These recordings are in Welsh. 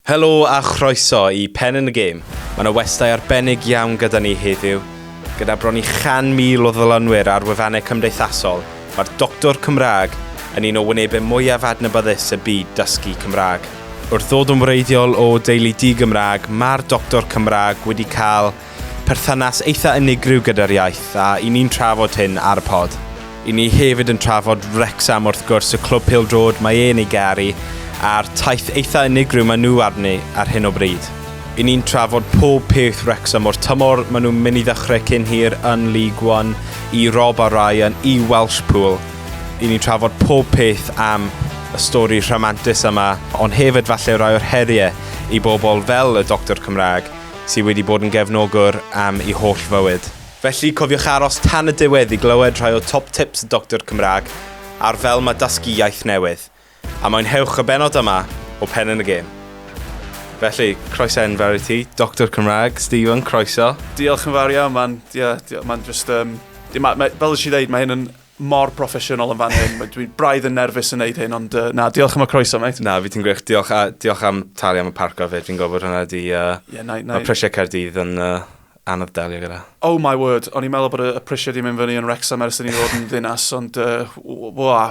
Helo a chroeso i Pen yn y Gêm. Mae yna westai arbennig iawn gyda ni heddiw. Gyda bron i 100,000 o ddylunwyr ar wefannau cymdeithasol, mae'r Doctor Cymraeg yn un o wynebau mwyaf adnabyddus y byd dysgu Cymraeg. Wrth ddod yn wreiddiol o deulu di-Gymraeg, mae'r Doctor Cymraeg wedi cael perthynas eitha unigryw gyda'r iaith a i ni'n trafod hyn ar y pod. I ni hefyd yn trafod Wrexham wrth gwrs, y clwb pil drod mae e'n ei garu a'r taith eitha unigryw mae nhw arni ar hyn o bryd. I ni'n trafod pob peth Wrexham o'r tymor mae nhw'n mynd i ddechrau cyn hir yn League One i Rob a Ryan i Welsh Pool. I ni'n trafod pob peth am y stori rhamantus yma, ond hefyd falle rai o'r heriau i bobl fel y Doctor Cymraeg sydd wedi bod yn gefnogwr am ei holl fywyd. Felly, cofiwch aros tan y diwedd i glywed rhai o top tips y Doctor Cymraeg ar fel mae dysgu iaith newydd. A mwynhewch y bennod yma o Pen yn y Gêm. Felly, croeso enfawr i ti, Doctor Cymraeg, Stephen, croeso. Diolch yn fawr iawn, man, yeah, man just, um, ma, ma, fel ydych chi ddeud, mae hyn yn mor broffesiynol yn fan hyn. Dwi'n braidd yn nerfus yn neud hyn, ond uh, na, diolch am y croeso, mate. Na, fi ti'n gwych. Diolch, a, diolch am talu am y parco fe. Fi'n gofod hwnna di... Uh, yeah, na, na. Mae prisiau Caerdydd yn uh, anodd delio gyda. Oh my word, o'n i'n meddwl bod y prisiau di mynd fyny yn Wrexham ers ni fod yn ddinas, ond uh, wa,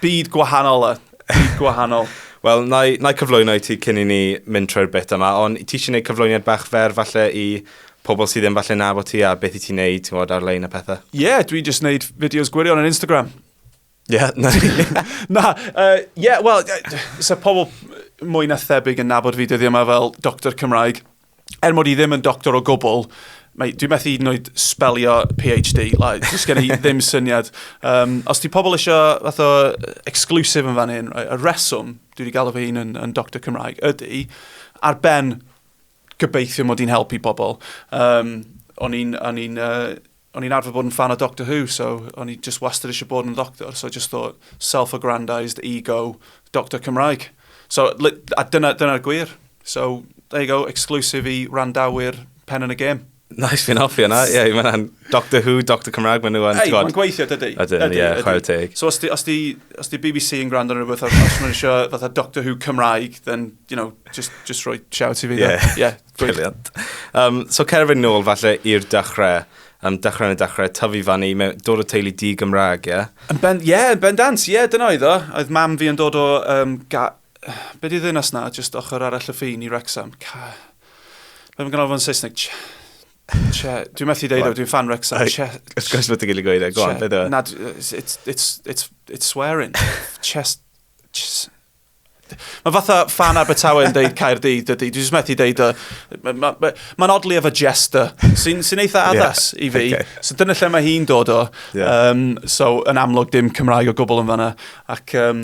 byd gwahanol e. Byd gwahanol. Wel, na i cyflwyno i ti cyn i ni mynd trwy'r bit yma, ond ti eisiau gwneud cyflwyniad bach fer falle i pobl sydd ddim falle'n nabod ti a beth i ti'n neud, ti'n gwybod, ar-lein a pethau? Ie, yeah, dwi just neud fideos gwirion ar Instagram. Ie, yeah, na. na, uh, yeah, wel, so pobl mwy na thebyg yn nabod fi dyddi yma fel doctor Cymraeg. Er mod i ddim yn doctor o gwbl, mae, dwi'n methu hyd yn oed spelio PhD, like, dwi'n gen i ddim syniad. Um, os ti pobl eisiau fath o exclusive yn fan hyn, right, y reswm, dwi wedi galw fy hun yn, yn doctor Cymraeg, ydy, ar ben Gobeithio mod i'n helpu pobl. Um, o'n i'n, o'n i'n, uh, o'n i'n arfer bod yn fan o Doctor Who, so o'n i just wastad eisiau bod yn ddoctor, so just thought self-aggrandized ego Doctor Cymraeg. So, a dyna'r dyna gwir. So, there you go, exclusive i randawyr pen yn y gêm. Nice, fi'n hoffi yna. Ie, yeah, mae'n Doctor Who, Doctor Cymraeg, mae'n nhw yn... Ei, mae'n gweithio, dydy. Ydyn, ie, yeah, chwarae teg. So, os di, os di, os di BBC yn gwrando ar rhywbeth, os mae'n eisiau fatha Doctor Who Cymraeg, then, you know, just, just roi shout i fi. Yeah, yeah brilliant. Um, so, cerfyn nôl falle i'r dechrau um, dechrau yn y dechrau, tyfu fan i, dod o teulu di Gymraeg, ie? Yeah? Ben, ie, yeah, ben dant, ie, yeah, dyna oedd o. Oedd mam fi yn dod o, um, ga... be di ddynas na, just ochr arall y ffin i Rexham. Ca... Mae'n fy ganolfan Saesneg. Ch- Che. Dwi'n methu deud o, dwi'n fan Wrexham. Che. Wrth gwrs bod ti'n gael ei gweud e, go on, Che. beth yw e? Na, d- it's, it's, it's, it's, it's swearing. Chest... chest- Mae fatha fan Abertawe yn deud Caerdydd, dydy. Dwi jyst methu deud o. Mae'n ma, ma, ma oddly efo jester, sy'n sy eitha Ie, addas i fi. ocê. So dyna lle mae hi'n dod o. Ie. Um, so yn amlwg dim Cymraeg o gwbl yn fanna. Ac um,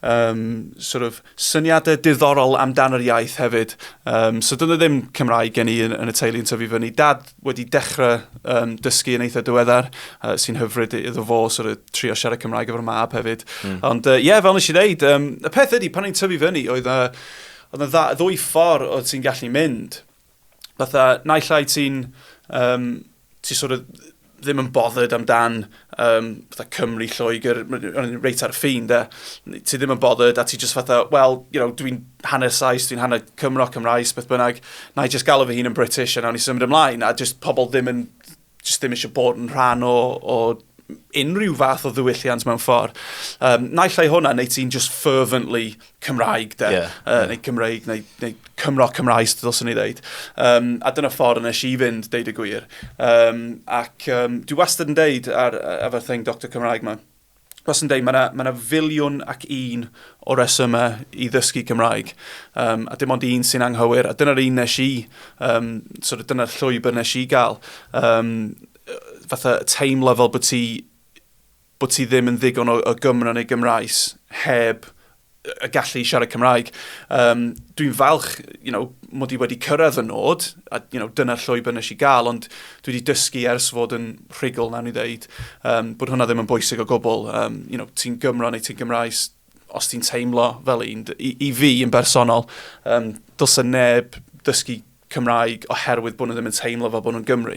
um, sort of, syniadau diddorol amdan yr iaith hefyd. Um, so dyna ddim Cymraeg gen i yn, yn y teulu yn tyfu fyny. Dad wedi dechrau um, dysgu yn eitha diweddar, uh, sy'n hyfryd iddo fo sort of, trio siarad Cymraeg efo'r mab hefyd. Mm. Ond ie, uh, yeah, fel nes i ddeud, um, y peth ydy, pan i'n tyfu fyny, oedd uh, oedd yna ddwy ffordd oedd ti'n gallu mynd. fatha, naill ai ti'n, um, ti sort of ddim yn bothered amdan um, fatha Cymru, Lloegr, reit ar y ffin, da. Ti ddim yn bothered a ti just fatha, wel, you know, dwi'n hanner Saes, dwi'n hanner Cymro, Cymraes, beth bynnag, na i just galw fy hun yn British a nawn ni symud ymlaen, a just pobl ddim yn jyst ddim eisiau bod yn rhan o, o unrhyw fath o ddiwylliant mewn ffordd. Um, naill ai hwnna, neu ti'n just fervently Cymraeg, de, yeah, uh, yeah. neu Cymraeg, neu, neu Cymro Cymraes, dylswn i ddeud. Um, a dyna ffordd nes i fynd, deud y gwir. Um, ac um, dwi wastad yn deud ar, ar fy thing Dr Cymraeg ma, fel sy'n dweud, mae yna ma filiwn ac un o resymau i ddysgu Cymraeg, um, a dim ond un sy'n anghywir, a dyna'r un nes i, um, sort of, dyna'r llwybr nes i gael. Um, fatha teimlo fel bod ti, bod ti ddim yn ddigon o, o Gymro neu Gymraes heb y gallu i siarad Cymraeg. Um, dwi'n falch, you know, mod i wedi cyrraedd y nod, a you know, dyna'r llwybr nes i gael, ond dwi wedi dysgu ers fod yn rhugl, nawn ni ddeud, um, bod hwnna ddim yn bwysig o gwbl. Um, you know, ti'n Gymro neu ti'n Gymraes, os ti'n teimlo fel un, i, i fi yn bersonol, um, dylse neb dysgu Cymraeg oherwydd bod nhw ddim yn teimlo fel bod nhw'n Gymru.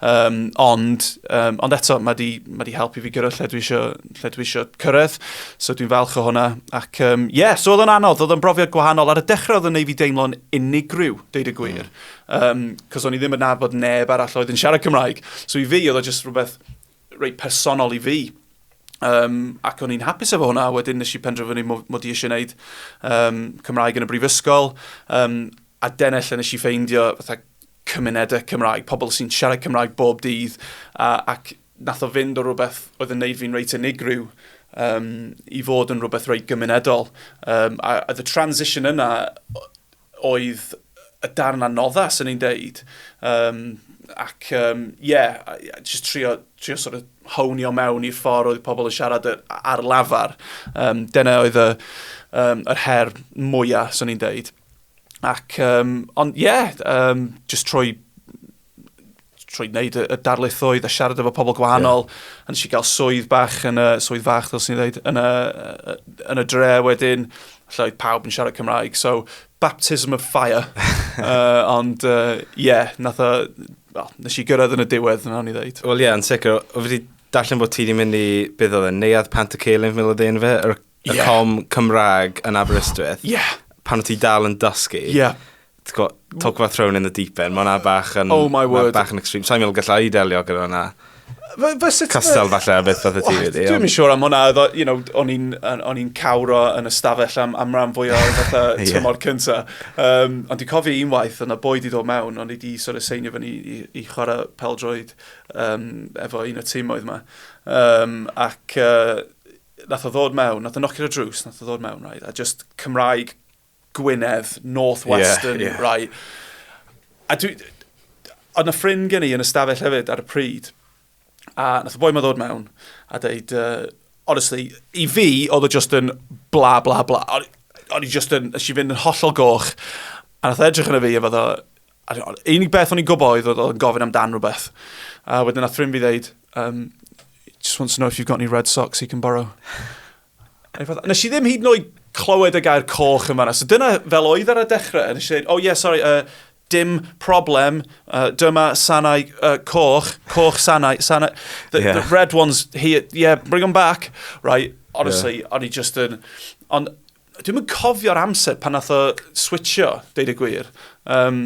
Um, ond, um, ond eto, mae di, mae di helpu fi gyrraedd lle dwi eisiau, lle dwi eisiau cyrraedd, so dwi'n falch o hwnna. Ac, um, yeah, so oedd o'n anodd, oedd o'n brofiad gwahanol. Ar y dechrau oedd o'n ei fi deimlo'n unigryw, deud y gwir. Mm. Um, cos o'n i ddim yn nabod neb arall oedd yn siarad Cymraeg. So i fi oedd o just rhywbeth reit personol i fi. Um, ac o'n i'n hapus efo hwnna, wedyn nes i penderfynu mod i eisiau gwneud um, Cymraeg yn y brifysgol, um, a dyna lle nes i ffeindio fatha cymunedau Cymraeg, pobl sy'n siarad Cymraeg bob dydd, a, ac nath o fynd o rhywbeth oedd yn neud fi'n reit unigryw um, i fod yn rhywbeth reit gymunedol. Um, a, a the transition yna, oedd y darn anoddas yn ei ddeud. Um, ac, ie, um, yeah, just trio, trio sort of hownio mewn i'r ffordd oedd pobl yn siarad ar lafar. Um, dyna oedd y, um, yr her mwyaf, swn i'n deud. Ac, um, ond ie, yeah, um, just trwy trwy wneud y darlithoedd a siarad efo pobl gwahanol, yeah. a nes i gael swydd bach yn y, swydd fach, ddylsyn ni ddweud, yn y, yn y dre wedyn, lle oedd pawb yn siarad Cymraeg, so baptism of fire. uh, ond, ie, uh, yeah, nath o, well, nes i gyrraedd yn y diwedd, yna o'n i ddweud. Wel, ie, yeah, yn sicr, o fi wedi darllen bod ti wedi mynd i, beth oedd e, neuad pant y ceilin, fel oedd ein fe, yr y yeah. com Cymraeg yn Aberystwyth, yeah. pan o ti dal yn dysgu, yeah. talk about thrown in the deep end, mae'n bach yn, oh my word. bach yn extreme. Sa'n meddwl gallai delio gyda hwnna. Castel falle a beth fath y ti wedi. Dwi'n siŵr am hwnna, you know, o'n i'n cawro yn y stafell am, am ran fwy o fatha tymor cynta. Um, ond dwi'n cofio un waith, yna boi di ddod mewn, o'n i di sort of seinio fyny i, i chwarae peldroed um, efo un o tîm oedd yma. Um, ac uh, nath o ddod mewn, nath o nocio ar y drws, nath o ddod mewn, right, a just Cymraeg Gwynedd, Northwestern, yeah, yeah. right. A dwi, oedd na ffrind gen i yn y stafell hefyd ar y pryd, a nath o boi ma ddod mewn, a dweud, uh, honestly, i fi, oedd o just yn bla, bla, bla. O'n i just yn, nes i fynd yn hollol goch, a nath edrych yn y fi, a fyddo, A unig beth o'n i'n gwybod oedd oedd o'n gofyn amdan rhywbeth. A wedyn nath ffrind fi ddeud, um, just wants to know if you've got any red socks he can borrow. Nes i ddim hyd yn oed clywed y gair coch yn fanna. So dyna fel oedd ar y dechrau. Nes i dweud, oh yeah, sorry, uh, dim problem, uh, dyma sanau uh, coch, coch sanau, sanau. The, yeah. the red ones here, yeah, bring them back. Right, honestly, yeah. o'n i just yn... Ond Dwi'm yn cofio'r amser pan nath o switcho, deud y gwir. Um,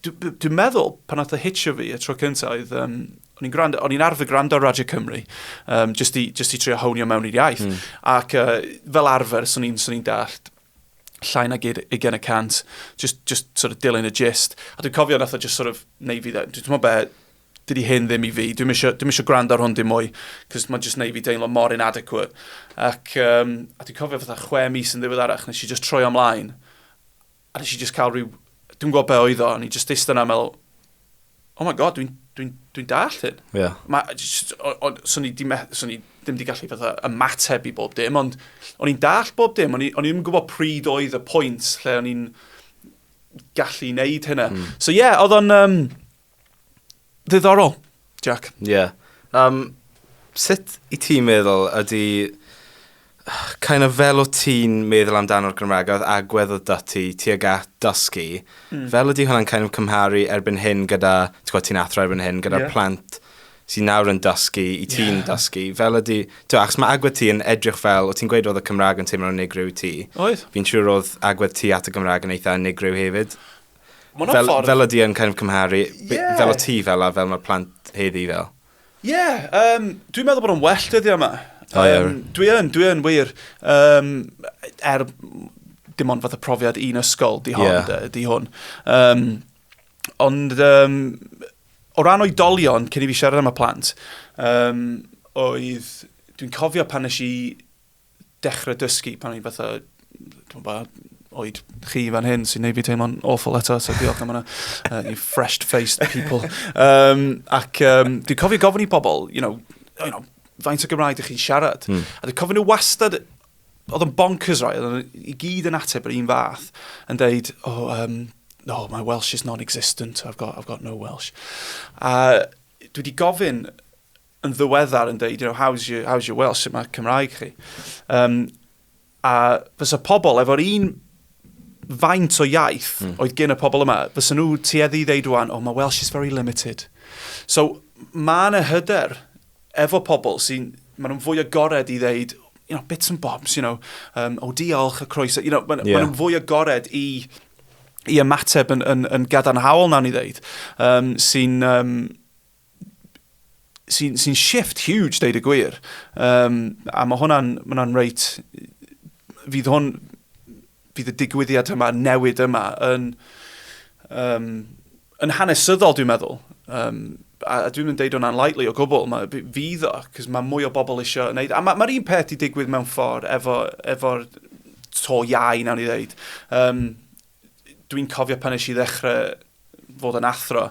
Dwi'n dwi meddwl, pan nath o hitio fi y tro cyntaf, oedd, um, o'n i'n gwrando, o'n i'n arfer gwrando Radio Cymru, um, just, i, just i trio hownio mewn i'r iaith. Mm. Ac uh, fel arfer, swn i'n ni dallt llai nag 20 y cant, just, just sort of dilyn y gist. A dwi'n cofio nath o just sort of, neu fi, dwi'n meddwl be, dydy hyn ddim i fi, dwi'n eisiau, dwi'm eisiau gwrando ar hwn dim mwy, cos mae'n just neud fi deimlo mor inadequate. Ac, um, a dwi'n cofio fatha chwe mis yn ddiweddarach, nes i just troi amlaen, a nes i just cael rhyw, dwi'n gwybod be oedd o, a ni just eist yna meddwl, oh my god, dwi'n dwi, dwi dall hyn. Yeah. Ma, just, o, o, so ni di, so ni ddim di gallu fatha ymateb i bob dim, ond o'n i'n dall bob dim, o'n i'n gwybod pryd oedd y pwynt lle o'n i'n gallu neud hynna. Mm. So ie, yeah, oedd o'n... Um, Ddiddorol, Jack. Ie. Yeah. Um, sut i ti'n meddwl ydy kind of fel o ti'n meddwl amdano'r Gymraeg oedd agwedd o dati tuag at dysgu, mm. fel ydy hwnna'n kind of cymharu erbyn hyn gyda, ti'n gwybod ti'n athro erbyn hyn, gyda yeah. plant sy'n nawr yn dysgu, i ti'n yeah. dysgu, fel ydy, ti'n achos mae agwedd ti yn edrych fel, o ti'n gweud oedd y Cymraeg yn teimlo'n unigryw ti. Oedd. Fi'n siŵr oedd agwedd ti at y Gymraeg yn eitha unigryw hefyd. Fel, ffordd... fel ydi yn kind of cymharu, yeah. fel o ti fel a fel mae'r plant heddi fel. Ie, yeah, um, dwi'n meddwl bod o'n well dyddi yma. Um, oh, yeah. Dwi yn, dwi yn wir. Um, er, dim ond fath o profiad un ysgol, di hon, yeah. di hwn. Um, ond, um, o ran oedolion, cyn i fi siarad am y plant, um, oedd, dwi'n cofio pan nes i dechrau dysgu pan o'n i fatha, dwi'n ba, oed chi fan hyn sy'n neud fi teimlo'n awful eto, so diolch am hwnna, uh, you fresh-faced people. Um, ac um, dwi'n cofio gofyn i bobl, you know, you know, faint o Gymraeg ydych chi'n siarad. Mm. A dwi'n cofyn nhw wastad, oedd yn bonkers roi, oedd yn i gyd yn ateb yr un fath, yn deud, oh, um, no, my Welsh is non-existent, I've got, I've got no Welsh. A dwi wedi gofyn yn ddiweddar yn dweud, you know, how's your, how's your Welsh, sut mae Cymraeg chi? Um, a fysa pobl efo'r un faint o iaith mm. oedd gen y pobl yma, fysa nhw tueddu i ddeud rwan, oh, mae Welsh is very limited. So, mae yna hyder efo pobl sy'n, maen nhw'n fwy agored i ddeud, you know, bits and bobs, you know, um, o oh, diolch y croeso, you know, maen yeah. ma nhw'n fwy agored i i ymateb yn, yn, yn gadarnhaol nawn ni ddeud, um, sy'n um, sy'n sy shift huge, deud y gwir. Um, a mae hwnna'n ma reit... Fydd hwn... Fydd y digwyddiad yma, newid yma, yn, um, yn hanesyddol, dwi'n meddwl. Um, a, a dwi'n mynd deud o'n unlikely o gwbl, mae, fydd o, cos mae mwy o bobl eisiau gwneud. A mae'r ma un peth i digwydd mewn ffordd efo, efo to iau, nawn ni ddeud. Um, Dwi'n cofio pan eisiau ddechrau fod yn athro,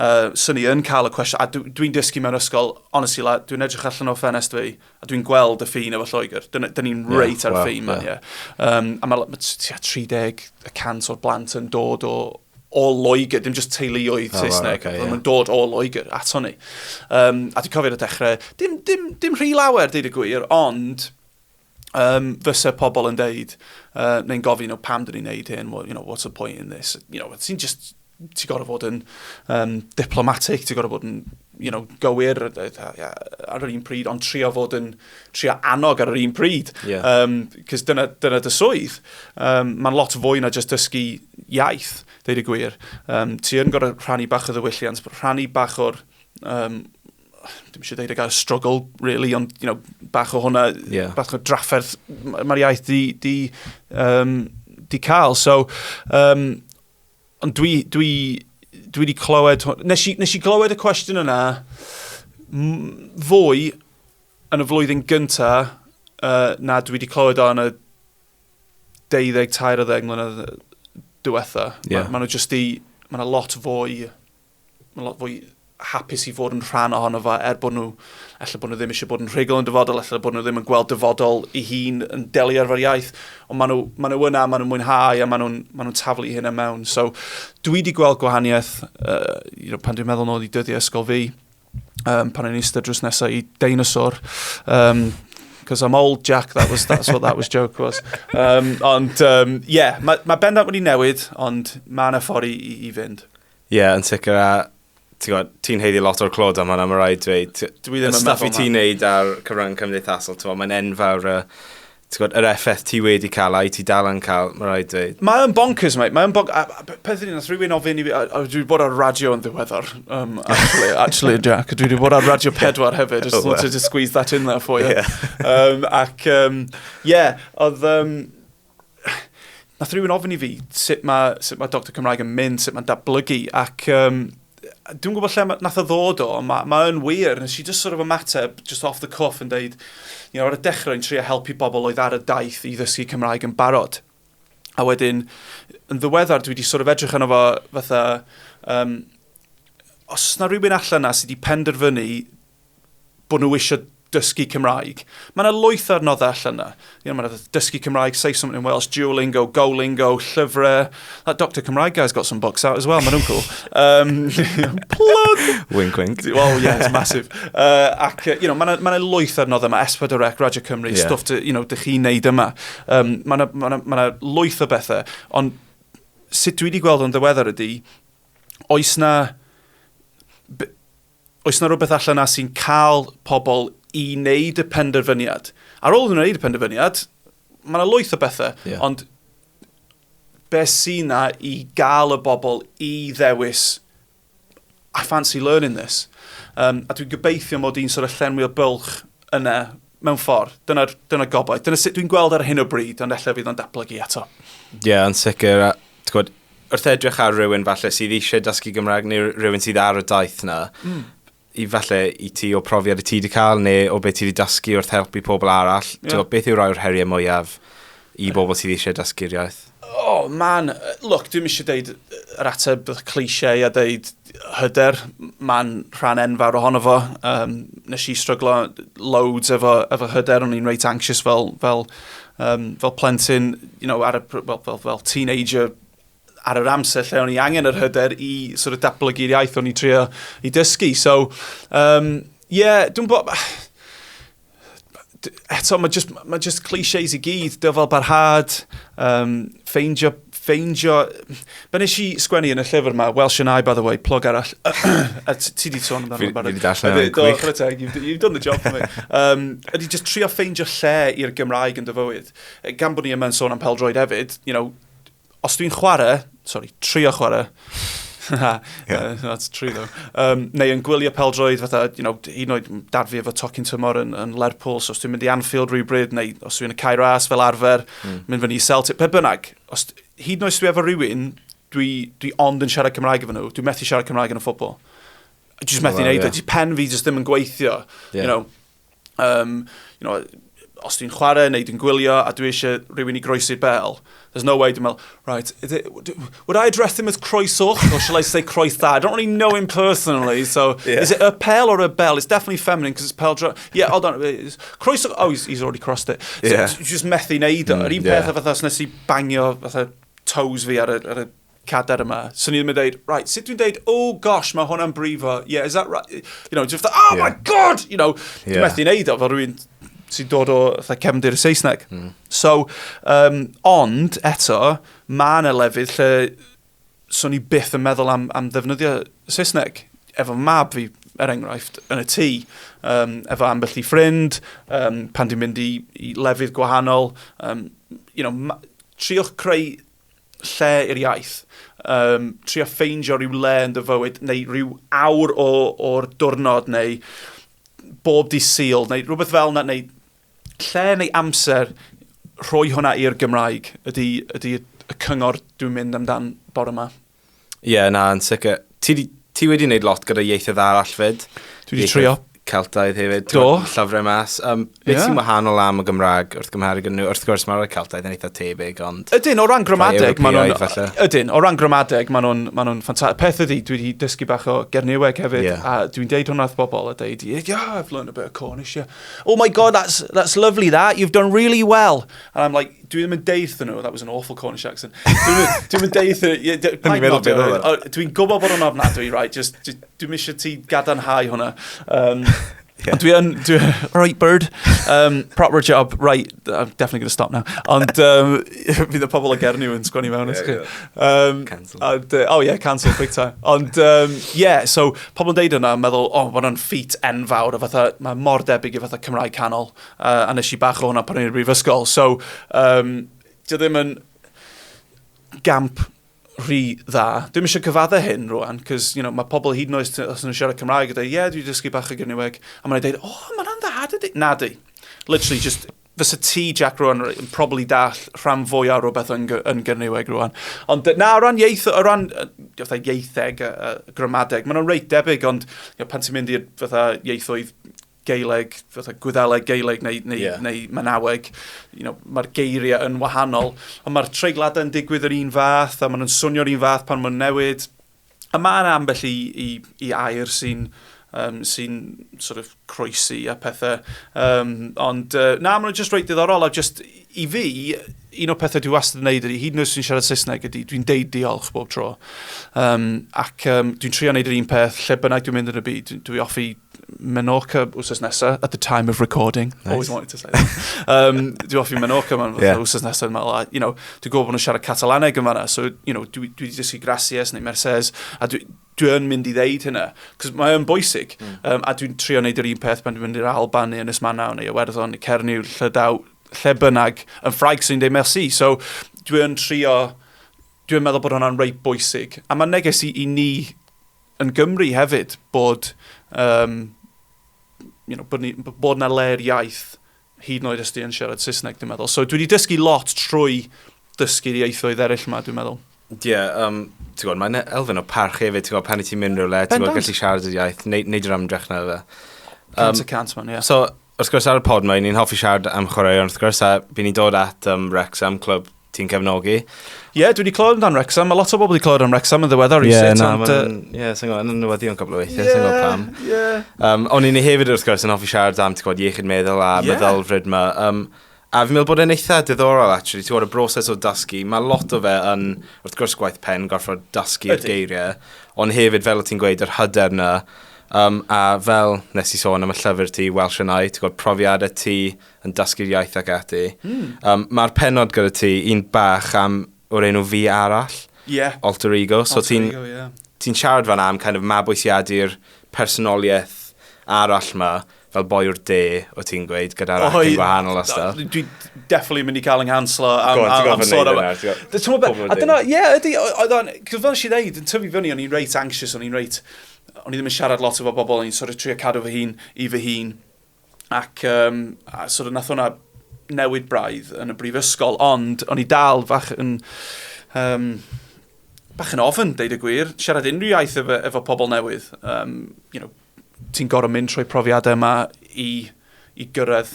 uh, sy'n ni yn cael y cwestiwn, a dwi'n dwi dysgu mewn ysgol, honestly, la, dwi'n edrych allan o ffenest fi, a dwi'n gweld y ffin efo Lloegr. Dyna yeah, ni'n reit yeah, ar y ffin man, yeah. yeah. Um, a mae ma, 30 y cant o'r blant yn dod o, o Loegr, dim just teuluoedd oh, Saesneg, okay, yeah. yn dod o Loegr ato ni. Um, a dwi'n cofio'r y dechrau, dim, dim, dim rhy lawer, dweud y gwir, ond um, fysa pobl yn deud, uh, neu'n gofyn, oh, pam dyn ni'n neud hyn, well, you know, what's the point in this? You know, ti'n just, ti'n gorau fod yn um, diplomatic, ti'n gorau fod yn, you know, gywir ar yr un pryd, ond trio fod yn, trio annog ar yr un pryd. Yeah. Um, Cys dyna, dyna dy swydd. Um, Mae'n lot fwy na just dysgu iaith, dweud y gwir. Um, ti yn gorau rhannu bach o ddiwylliant, rhannu bach o'r um, dim eisiau dweud y gair struggle, really, ond you know, bach o hwnna, yeah. bach o drafferth mae'r iaith di, di, um, di cael. So, um, ond dwi, dwi, dwi wedi clywed, nes i, nes i glywed y cwestiwn yna, fwy yn y flwyddyn gynta uh, na dwi wedi clywed o yn y 12 13 mlynedd diwetha. Yeah. Mae ma nhw jyst i, mae yna lot fwy Mae'n lot fwy hapus i fod yn rhan ohono fo er bod nhw, efallai bod nhw ddim eisiau bod yn rhugl yn dyfodol, efallai bod nhw ddim yn gweld dyfodol i hun yn delio ar iaith, ond maen nhw, ma nhw yna, maen nhw'n mwynhau a maen nhw'n ma nhw taflu hyn am mewn. So, dwi wedi gweld gwahaniaeth uh, you know, pan dwi'n meddwl nôl i dyddiau ysgol fi, um, pan o'n eistedd drws nesaf i deinosor, um, because I'm old, Jack. That was that's what that was joke was. Um, ond um, yeah, mae ma bendant wedi newid, ond mae yna ffordd i, i, i fynd. Ie, yn sicr, a ti'n gwybod, ti'n heiddi lot o'r clod am hwnna, mae rhaid dweud. Dwi ddim yn meddwl Stuff i ti'n neud ar cyfrwng cymdeithasol, ti'n gwybod, mae'n enfawr y... Ti'n gwybod, yr effaith ti wedi cael a'i ti dal yn cael, mae rhaid dweud. Mae'n bonkers, mate. Mae'n bonkers. Peth ydy, nath rhywun ofyn i fi... Dwi wedi bod ar radio yn ddiweddar, um, actually, actually, Jack. Dwi wedi bod ar radio pedwar hefyd. Just oh, wanted to squeeze that in there for you. Yeah. um, ac, um, yeah, oedd... Um, Nath rhywun ofyn i fi sut mae, sut mae Doctor Cymraeg yn mynd, sut mae'n datblygu, ac um, dwi'n gwybod lle nath o ddod o, mae ma yn wir, nes i just sort of ymateb, just off the cuff, yn deud, you know, ar y dechrau yn trio helpu bobl oedd ar y daith i ddysgu Cymraeg yn barod. A wedyn, yn ddiweddar, dwi wedi sort of edrych yno fo fatha, um, os na rhywun allan na sydd wedi penderfynu bod nhw eisiau dysgu Cymraeg. Mae yna lwyth ar noddau allan yna. You know, mae yna dysgu Cymraeg, say something in Welsh, Duolingo, Golingo, llyfrau. That Dr Cymraeg guy's got some books out as well, mae nhw'n cool. Um, plug! wink, wink. Well, yeah, it's massive. Uh, ac, you know, mae yna ma lwyth ar noddau yma, Esbyd Rec, Radio Cymru, yeah. stuff, to, you know, dych chi'n neud yma. Um, mae yna ma ma ma lwyth o bethau, ond sut dwi wedi gweld o'n ddiweddar ydy, oes na Oes 'na rywbeth allan 'na sy'n cael pobl i wneud y penderfyniad? Ar ôl iddyn nhw wneud y penderfyniad, mae yna lwyth o bethau, yeah. ond be sy'n na i gael y bobl i ddewis I fancy learning this. Um, a dwi'n gobeithio mod i'n sort of llenwi o bylch yna mewn ffordd. Dyna'r dyna gobaith. Dyna sut dwi'n gweld ar hyn o bryd, ond efallai fydd o'n datblygu eto. Ie, yeah, yn sicr. Gwyd, wrth edrych ar rhywun falle sydd eisiau dysgu Gymraeg neu rhywun sydd ar y daith na, mm. i falle i ti o profiad y ti wedi cael neu o beth ti wedi dysgu wrth helpu pobl arall, yeah. beth yw rai o'r heriau mwyaf I bobl sydd eisiau dysgu'r iaith? O, man, look, dwi'n eisiau deud yr ateb cliche a deud hyder, man rhan enfawr ohono fo. Um, nes i stryglo loads efo, efo hyder, o'n i'n reit anxious fel, fel, um, fel plentyn, you know, ar y, fel, fel, fel teenager, ar yr amser lle o'n i angen yr hyder i sort of datblygu'r iaith o'n i trio i dysgu. So, um, yeah, dwi'n bod... Eto, mae just, mae just clichés i gyd, dyfal barhad, um, ffeindio, ffeindio... Be nes i sgwennu yn y llyfr yma, Welsh and I, by the way, plog arall. a ti di sôn amdano barod. Fi di darllen yn gwych. Do, teg, you've done the job for me. Um, ydy just trio ffeindio lle i'r Gymraeg yn dyfywyd. Gan bod ni yma'n sôn am peldroed hefyd, you know, Os dwi'n chwarae, sorry, trio chwarae, yeah. that's true though. Um, neu yn gwylio peldroed, fatha, you know, un oed dad fi efo tocyn tymor yn, yn Lerpwl, so os dwi'n mynd i Anfield rhywbryd, neu os dwi'n mynd i Cairo As fel arfer, mm. mynd fyny i Celtic, pe bynnag, os, hyd noes dwi efo rhywun, dwi, dwi ond yn siarad Cymraeg efo nhw, dwi'n methu siarad Cymraeg yn y ffobl. Dwi'n methu well, neud yeah. o, pen fi jyst ddim yn gweithio, yeah. you know. um, you know, os dwi'n chwarae neu dwi'n gwylio a dwi eisiau rhywun i groesi'r bel, there's no way dwi'n meddwl, right, it, would I address him as croesoch or shall I say croes dda? I don't really know him personally, so yeah. is it a pel or a bell? It's definitely feminine because it's pel dra... Yeah, hold on, croesoch, oh, he's, he's already crossed it. So yeah. just methu neud o. Mm, Yr un yeah. peth o fatha os nes i bangio fatha toes fi ar y, ar y cadair yma. So ni ddim yn dweud, right, sut dwi'n dweud, oh gosh, mae hwnna'n brifo, yeah, is that right? You know, just, oh yeah. my god! You know, yeah. dwi'n methu neud o, fel rwy'n sy'n dod o fatha cefndir y Saesneg. Mm. So, um, ond eto, mae yna lefydd lle so ni byth yn meddwl am, am ddefnyddio Saesneg. Efo mab fi, er enghraifft, yn y tŷ, um, efo ambell i ffrind, um, pan dwi'n mynd i, i lefydd gwahanol, um, you know, triwch creu lle i'r iaith. Um, trio ffeindio rhyw le yn dy fywyd, neu rhyw awr o'r diwrnod, neu bob di syl, neu rhywbeth fel yna, neu lle neu amser rhoi hwnna i'r Gymraeg ydy, ydy y cyngor dwi'n mynd amdan bore yma. Ie, na, yn sicr. Ti, ti wedi gwneud lot gyda ieithoedd arall fyd? Dwi wedi trio. Celtaidd hefyd. Do. Llyfrau mas. Um, beth yeah. sy'n wahanol am y Gymraeg wrth gymharu gyda nhw? Wrth gwrs, mae'r Celtaidd yn eitha tebyg, ond... Ydyn, o ran gramadeg, maen nhw'n... Ydyn, o ran gramadeg, maen nhw'n ma nhw ffantastig. Peth ydy, dwi wedi dysgu bach o Gerniweg hefyd, yeah. a dwi'n deud hwnna wrth bobl, a deud, yeah, I've learned a bit of Cornish, yeah. Oh my god, that's, that's lovely that, you've done really well. And I'm like, Dwi ddim yn deud nhw, that was an awful Cornish accent. Dwi'n yn deud nhw, dwi'n gwybod bod o'n ofnadwy, right, just, dwi'n eisiau ti gadarnhau hwnna. Um, yeah. Dwi yn, dwi, right bird, um, proper job, right, I'm definitely going to stop now. Ond um, fydd y pobl o Gerniw yn sgwini mewn. Yeah, yeah. Um, cancel. And, uh, oh yeah, cancel, big time. Ond um, yeah, so pobl yn deud yna, meddwl, oh, mae'n feat enfawr, o fatha, mae mor debyg i fatha Cymraeg canol, Uh, a nes i bach o hwnna pan o'n i'r brifysgol. So, um, dio ddim yn gamp rhy dda. Dwi'n eisiau cyfadde hyn rwan, cos you know, mae pobl hyd yn oes os nhw'n siarad Cymraeg a dweud, ie, yeah, dwi'n dysgu bach o gyniweg. A mae'n dweud, o, oh, mae'n dda, dydy. Na, di. Literally, just fysa ti, Jack, rwan, yn probably dall rhan fwy ar rhywbeth yn, yn gyniweg rwan. Ond na, o ran ieith, o ran fatha ieitheg, a, a gramadeg, mae'n reit debyg, ond you know, pan ti'n mynd i'r ieithoedd Gaeleg, fatha Gwyddeleg, Gaeleg neu, neu, yeah. neu Manaweg. You know, mae'r geiriau yn wahanol, ond mae'r treigladau yn digwydd yr un fath, a maen nhw'n swnio'r un fath pan mae'n newid. A mae yna ambell i, i, i air sy'n um, sy sort of croesi a pethau. Um, ond uh, na, maen nhw'n just reit diddorol a just I fi, un o'r pethau dwi wastad yn neud ydy, hyd yn oes sy'n siarad Saesneg ydy, dwi'n deud diolch bob tro. Um, ac um, dwi'n trio neud yr un peth lle bynnag dwi'n mynd yn y byd. Dwi off i Menorca wrth nesa, at the time of recording. Nice. Always wanted to say that. um, dwi off i Menorca man yeah. wrth nesa, dwi'n meddwl, you know, dwi'n gwybod bod nhw'n siarad Catalaneg yn fanna, so, you know, dwi, dwi wedi dysgu Gracias neu Mercedes, a dwi, dwi yn mynd i ddeud hynna, cos mae yn bwysig, mm. um, a dwi'n trio wneud yr un peth pan dwi'n mynd i'r Alban neu Ynys Manaw neu Iwerddon neu Cernyw, Llydaw, lle bynnag, yn ffraig sy'n dweud merci. So dwi'n trio, dwi'n meddwl bod hwnna'n reit bwysig. A mae'n neges i, i ni yn Gymru hefyd bod, um, you know, bod, ni, bod na le'r iaith Hyd yn oed os ti yn siarad Saesneg, dwi'n meddwl. So dwi wedi dysgu lot trwy dysgu'r ieithoedd eraill yma, dwi'n meddwl. Ie, yeah, um, ti'n gwybod, mae'n elfen o parch hefyd, ti'n gwybod, pan i ti'n mynd rhywle, ti'n gwybod, gallu siarad y iaith, neud, neud yr amdrech na fe. Um, cant y cant, man, ie. Yeah. So, wrth gwrs ar y pod mae, ni'n hoffi siarad am chwaraeon wrth gwrs, a fi'n ni dod at um, Wrexham, clwb ti'n cefnogi. Ie, yeah, dwi wedi clywed amdan Wrexham. Mae lot o bobl wedi clywed am Wrexham yn ddiweddar. Ie, yeah, na, mae'n... Ie, sy'n gwybod, yn newyddion cwbl o weithiau, yeah, sy'n gwybod pam. Yeah. Um, o'n i'n ei hefyd wrth gwrs yn hoffi siarad am, ti'n gwybod, iechyd meddwl a yeah. meddylfryd yma. Um, A fi'n meddwl bod e'n eitha diddorol, actually. Ti'n gwybod, y broses o dasgu, mae lot o fe yn, wrth gwrs, gwaith pen, gorfod dasgu'r geiriau, ond hefyd, fel o ti'n gweud, yr hyder yna, um, a fel nes i sôn am y llyfr ti, Welsh and I, ti'n gwybod, profiadau ti, yn dysgu'r iaith ac ati. Mm. Um, Mae'r penod gyda ti, un bach am o'r enw fi arall. Yeah. Alter ego. So Alter ti'n, ego, yeah. Ti'n siarad fan am kind of mabwysiadu'r personoliaeth arall ma, fel boi o'r de, o ti'n gweud, gyda'r oh, acen wahanol a stuff. Dwi definitely mynd i cael yng nghanslo am, on, am, am sôn am... A dyna, ie, ydy, oedd o'n, cos fel nes i ddeud, yn tyfu fyny, o'n i'n reit anxious, o'n i'n reit, o'n i ddim yn siarad lot efo bobl, o'n i'n sort of trio cadw fy hun i fy hun, ac um, a sort of nath hwnna newid braidd yn y brifysgol, ond o'n i dal fach yn... Um, bach yn ofyn, deud y gwir, siarad unrhyw iaith efo, efo pobl newydd. Um, you know, ti'n gorau mynd trwy profiadau yma i, i gyrraedd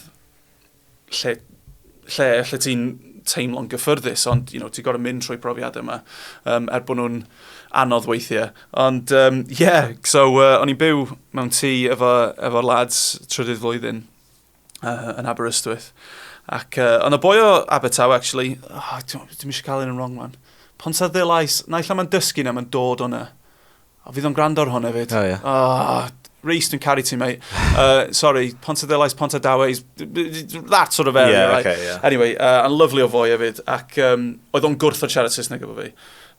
lle, lle, lle ti'n teimlo'n gyffyrddus, ond you know, ti'n gorau mynd trwy profiad yma, um, er bod nhw'n anodd weithiau. Ond, ie, um, yeah, so uh, o'n i'n byw mewn tŷ efo, efo lads trydydd flwyddyn uh, yn Aberystwyth. Ac uh, ond y boi o Abertawe, actually, oh, dim eisiau cael un yn wrong man. Ponsa ddilais, naill mae'n dysgu na mae'n dod o'na. O, fydd o'n gwrando ar hwn hefyd. O, ie. Oh, Reece, dwi'n caru ti, mate. Uh, sorry, Pontadilais, Pontadawais, that sort of area, yeah, right? Okay, yeah. Anyway, uh, and lovely o fwy hefyd, ac um, oedd o'n gwrth o'r siarad Saesneg efo fi.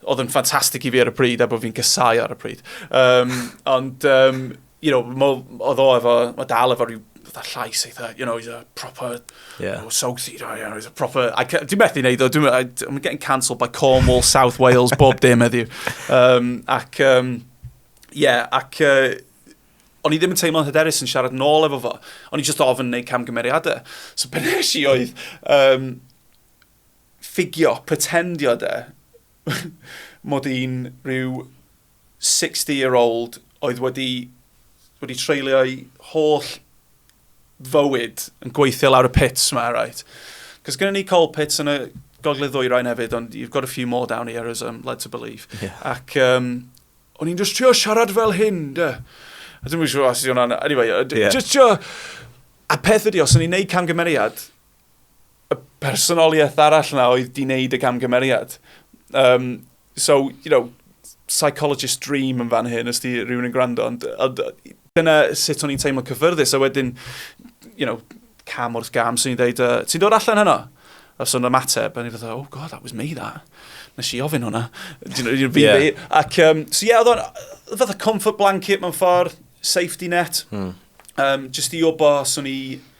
Oedd yn ffantastig i fi ar y pryd, a bod fi'n gysau ar y pryd. Um, ond, um, you know, mo, oedd o efo, mae dal efo rhyw fatha llais eitha, you know, he's a proper yeah. oh, South Sea, oh, yeah, he's a proper... Dwi'n methu wneud o, dwi'n I'm getting cancelled by Cornwall, South Wales, bob dim heddiw. Um, ac, um, yeah, ac uh, o'n i ddim yn teimlo'n hyderus yn siarad nôl efo fo. O'n i just ofyn wneud camgymeriadau. So be nes i oedd um, ffigio, pretendio de, mod i'n rhyw sixty year old oedd wedi wedi treulio'i holl fywyd yn gweithio lawr y pits yma, right? Cos gyda ni coal pits yn y gogledd ddwyrain hefyd, ond you've got a few more down here as I'm led to believe. Yeah. Ac um, o'n i'n just trio siarad fel hyn, da. A dwi'n siŵr os ydy hwnna'n... Anyway, yeah. just trio... A peth ydi, os o'n i'n neud camgymeriad, y personoliaeth arall na oedd di wneud y camgymeriad. Um, so, you know, psychologist dream yn fan hyn, os di rhywun yn gwrando, ond, ond dyna sut o'n i'n teimlo cyffyrddus, a wedyn, you know, cam wrth gam, sy'n i'n dweud, uh, ti'n dod allan heno? A so yna mateb, a ni'n fatha, oh god, that was me that. Nes i ofyn hwnna. yeah. Ac, um, so ie, yeah, oedd o'n, fatha comfort blanket mewn ffordd, safety net, hmm. um, just i obo, swn i,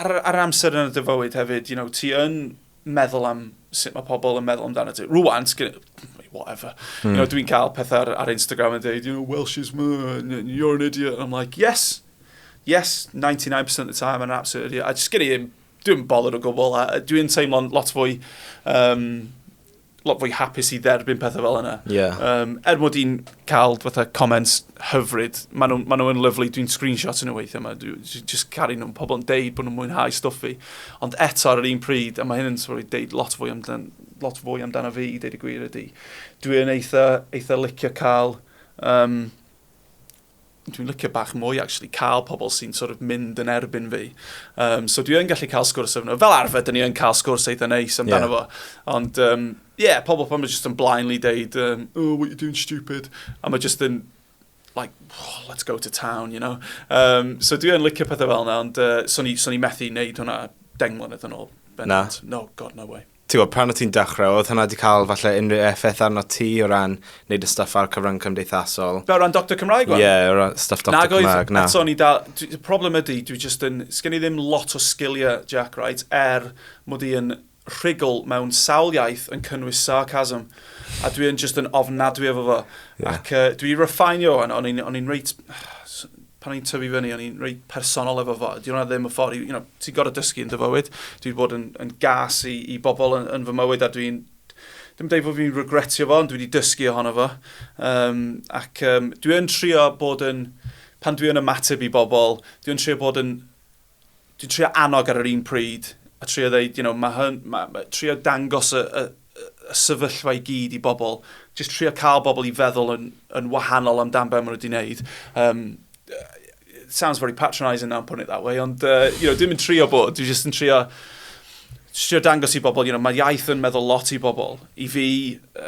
Ar y, ar yr amser yn dy fywyd hefyd, you know, ti yn meddwl am sut mae pobl yn meddwl amdano ti. Rwan, whatever. Mm. You know, dwi'n cael pethau ar, ar Instagram yn dweud, you know, Welsh is you're an idiot. And I'm like, yes, yes, 99% of the time, I'm an absolute idiot. I just gynnu, dwi'n bothered o gwbl, a dwi'n teimlo'n lot fwy um, lot fwy hapus i dderbyn pethau fel yna. Yeah. Um, er mod i'n cael fatha comments hyfryd, maen nhw'n ma nhw lyflu, dwi'n screenshot yn y weithio yma, dwi'n just caru nhw'n pobl yn deud bod nhw'n mwynhau stwff i. Ond eto ar yr un pryd, a mae hyn yn sort of deud lot fwy amdan, lot fwy amdano fi i deud y gwir ydy, dwi'n eitha, eitha licio cael um, dwi'n licio bach mwy actually cael pobl sy'n sort of mynd yn erbyn fi. Um, so dwi yn gallu cael sgwrs efo nhw. Fel arfer, dyn ni yn cael sgwrs eitha neis amdano yeah. fo. Ond, um, yeah, pobl pan mae jyst yn blindly deud, um, oh, what you doing stupid? A mae jyst yn, like, oh, let's go to town, you know? Um, so dwi yn licio pethau fel yna, ond uh, so ni, so ni methu wneud hwnna deng mlynedd yn ôl. Na. No, god, no way. ti'n gwybod, pan o ti'n dechrau, oedd hwnna wedi cael falle unrhyw effaith arno ti o ran wneud y stuff ar cyfrwng cymdeithasol? Fel rhan Doctor Cymraeg wan? Ie, yeah, rhan stuff Doctor Nag Cymraeg, na. Eto, ni da, y problem ydy, dwi just yn, sgen i ddim lot o sgiliau, Jack, right, er mod i yn rhugl mewn sawl iaith yn cynnwys sarcasm, a dwi yn just yn ofnadwy efo fo. Yeah. Ac uh, dwi refinio hwn, o'n i'n reit pan o'n i'n tyfu fyny, o'n i'n reit personol efo fo. Di hwnna ddim y ffordd, you know, ti'n gorau dysgu yn dy fywyd. Dwi wedi bod yn, yn gas i, i bobl yn, yn fy mywyd a dwi'n, dim dweud bod fi'n regretio fo, ond dwi wedi dysgu ohono fo. Um, ac um, dwi'n trio bod yn, pan dwi'n ymateb i bobl, dwi'n trio bod yn dwi'n trio annog ar yr un pryd, a trio ddeud, you know, mae hyn, mae, mae, trio dangos y, y, y sefyllfa i gyd i bobl, jyst trio cael bobl i feddwl yn, yn wahanol amdan beth maen nhw wedi wneud. Um, it sounds very patronising now, I'm putting it that way, ond, uh, you know, dwi'n mynd trio bod, dwi'n jyst yn trio trio dangos i bobl, you know, mae iaith yn meddwl lot i bobl. I fi,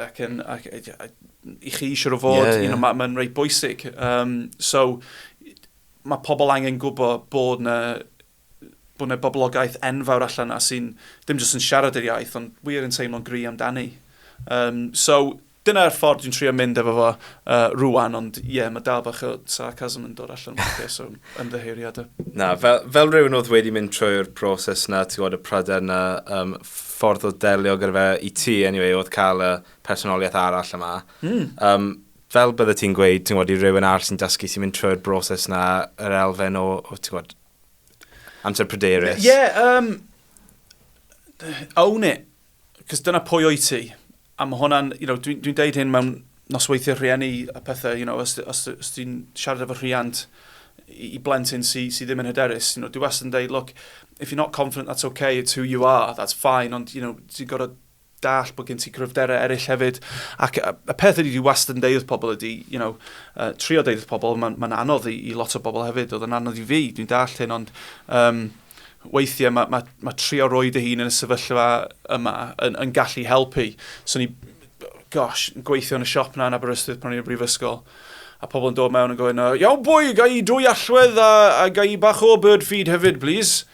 ac yn, ac, i chi eisiau o fod, yeah, yeah. you know, mae'n ma reit bwysig. Um, so, mae pobl angen gwybod bod na, bod na boblogaeth enfawr allan na sy'n ddim jyst yn siarad yr iaith, ond wir yn teimlo'n gry amdani. Um, so, dyna'r ffordd dwi'n trio mynd efo fo uh, rwan, ond ie, yeah, mae dal bach o sarcasm yn dod allan o'r so ymddeheiriadau. Na, fel, fel rhywun oedd wedi mynd trwy'r broses na, ti'n gwybod y pryder na, um, ffordd o delio gyda fe i ti, anyway, oedd cael y personoliaeth arall yma. Mm. Um, fel bydde ti'n gweud, ti'n gwybod, i rywun arall sy'n dysgu, sy'n mynd trwy'r broses na, yr elfen o, o ti'n gwybod, amser pryderus. Ie, yeah, um, own it. Cos dyna pwy o'i ti. A mae hwnna'n, you know, dwi'n dwi, deud hyn mewn nosweithiau rhieni a pethau, you know, os, os, os ti'n siarad efo rhiant i, i blentyn sydd sy ddim yn hyderus, you know, dwi wastad yn deud, look, if you're not confident, that's okay, it's who you are, that's fine, ond, you know, ti'n gorau dallt bod gen ti gryfderau eraill hefyd. Ac y peth ydy, dwi wastad yn deud wrth pobl ydy, you know, uh, trio deud wrth pobl, mae'n ma anodd i, i lot o bobl hefyd, oedd yn anodd i fi, dwi'n dallt hyn, ond um, weithiau mae ma, ma trio roi dy hun yn y sefyllfa yma yn, yn gallu helpu. So ni, gosh, gweithio yn y siop na yn Aberystwyth pan o'n i'n brifysgol, a pobl yn dod mewn yn gofyn, iawn bwy, gai dwy allwedd a, a gai bach o bird feed hefyd, please.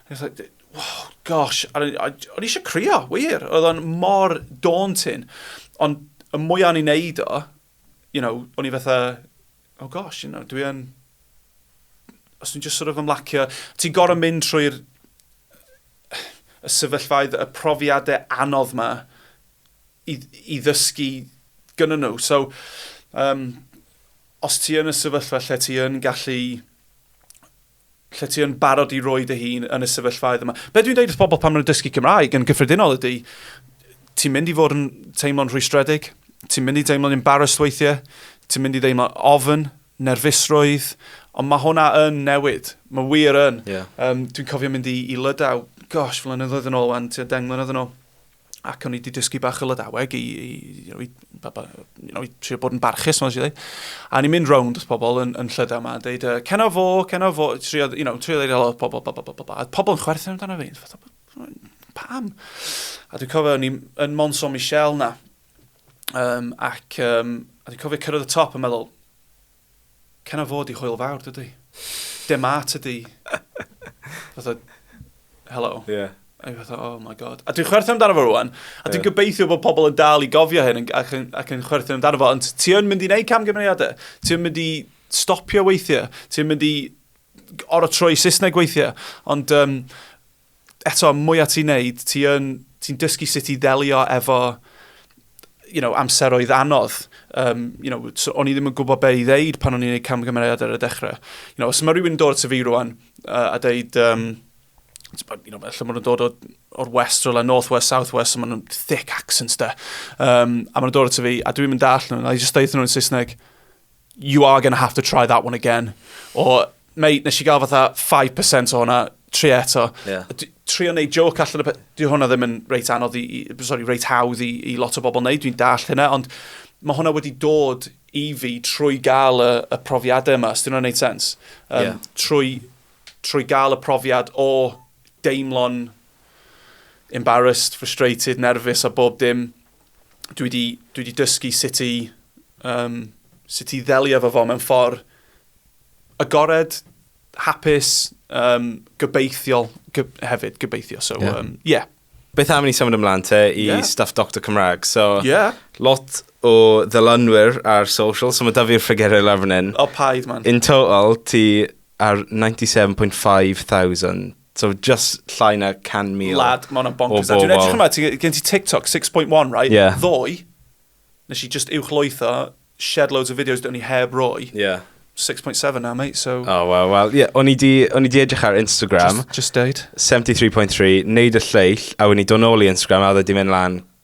It's like, Wow, gosh, o'n i eisiau crio, wir. Oedd o'n mor daunting. Ond y mwy o'n i'n neud o, you know, o'n i fatha, oh gosh, you know, dwi yn... Os dwi'n just sort of ymlacio, ti'n gorau mynd trwy'r y sefyllfaoedd, y profiadau anodd yma i, i ddysgu gyda nhw. So, um, os ti yn y sefyllfa lle ti yn gallu lle ti yn barod i roi dy hun yn y sefyllfaoedd yma. Be dwi'n dweud wrth bobl pan maen nhw'n dysgu Cymraeg yn gyffredinol ydy, ti'n mynd i fod yn teimlo'n rhwystredig, ti'n mynd i deimlo'n embarrassed weithiau, ti'n mynd i ddeimlo'n ofn, nerfusrwydd, ond mae hwnna yn newid. Mae wir yn. Yeah. Um, dwi'n cofio mynd i, i Lydaw, gosh, flynyddoedd yn ôl wan, ti'n deng mlynedd yn ôl. ac o'n i wedi dysgu bach o Lydaweg i, i, you know, i, baba, you know, i trio bod yn barchus, mae'n siarad. A o'n i'n mynd rownd wrth pobl yn, yn llydaw yma, yn dweud, uh, cena fo, cena fo, trio, you know, trio ddeud helo pobl, ba, ba, ba, ba, ba. A pobl yn chwerthin amdano fi, fatha, pam? A dwi'n cofio, o'n i'n Monson Michel na, um, ac um, a dwi'n cofio cyrraedd y top yn meddwl, Can o fod i Hwyl Fawr, dydy? Dema tydi. Fatha, hello. Ie. Yeah. A fi fatha, oh my god. A dwi'n chwerthin amdano fo rwan, a dwi'n yeah. gobeithio bod pobl yn dal i gofio hyn ac yn, ac yn chwerthin amdano fo, ond ti yn mynd i wneud camgymeriadau, ti yn mynd i stopio weithiau, ti yn mynd i oro troi Saesneg weithiau, ond um, eto, mwyaf ti'n neud, ti'n ti, ti dysgu sut i ddelio efo you know, amseroedd anodd. Um, you know, so o'n i ddim yn gwybod be i ddeud pan o'n i'n gwneud camgymeriad ar y dechrau. You know, os mae rhywun yn dod at y fi rwan uh, a dweud, um, you know, felly maen nhw'n dod o'r west, o'r north west, south west, so maen nhw'n thick accents da. Um, a maen nhw'n dod at y fi, a dwi'n mynd all nhw, a i just dweud nhw'n Saesneg, you are going to have to try that one again. O, mate, nes i gael fatha 5% o hwnna, tri eto. Yeah. Tri o'n neud joke allan o... Di hwnna ddim yn reit anodd i... Sorry, reit hawdd i, i lot o bobl neud, dwi'n dall hynna, ond mae hwnna wedi dod i fi trwy gael y, y profiadau yma, os dyn nhw'n neud sens. Um, yeah. trwy, trwy gael y profiad o deimlo'n embarrassed, frustrated, nervous a bob dim, dwi wedi, dwi wedi dysgu sut i, um, sut i ddelio fo fo mewn ffordd agored, hapus, um, gobeithiol go, hefyd, gobeithio. So, yeah. Um, yeah. Beth am ni symud ymlaen te i yeah. stuff Dr Cymraeg? So, yeah. lot o ddylunwyr ar social, so mae da fi'r ffigurau lawr fan hyn. O, paid, man. In total, ti ar 97.5 thousand. So just llai na 100,000 Lad, mae hwnna'n bonkers. Dwi'n edrych yma, gen ti TikTok 6.1, right? Yeah. Ddoe, nes i just uwch loetho, shed loads of videos do'n i heb roi. Yeah. 6.7 now, mate, so... Oh, well, well, yeah, o'n i di, o'n i di edrych ar Instagram. Just, just deud. 73.3, neud y lleill, a o'n i dod nôl i Instagram, a oedd wedi mynd lan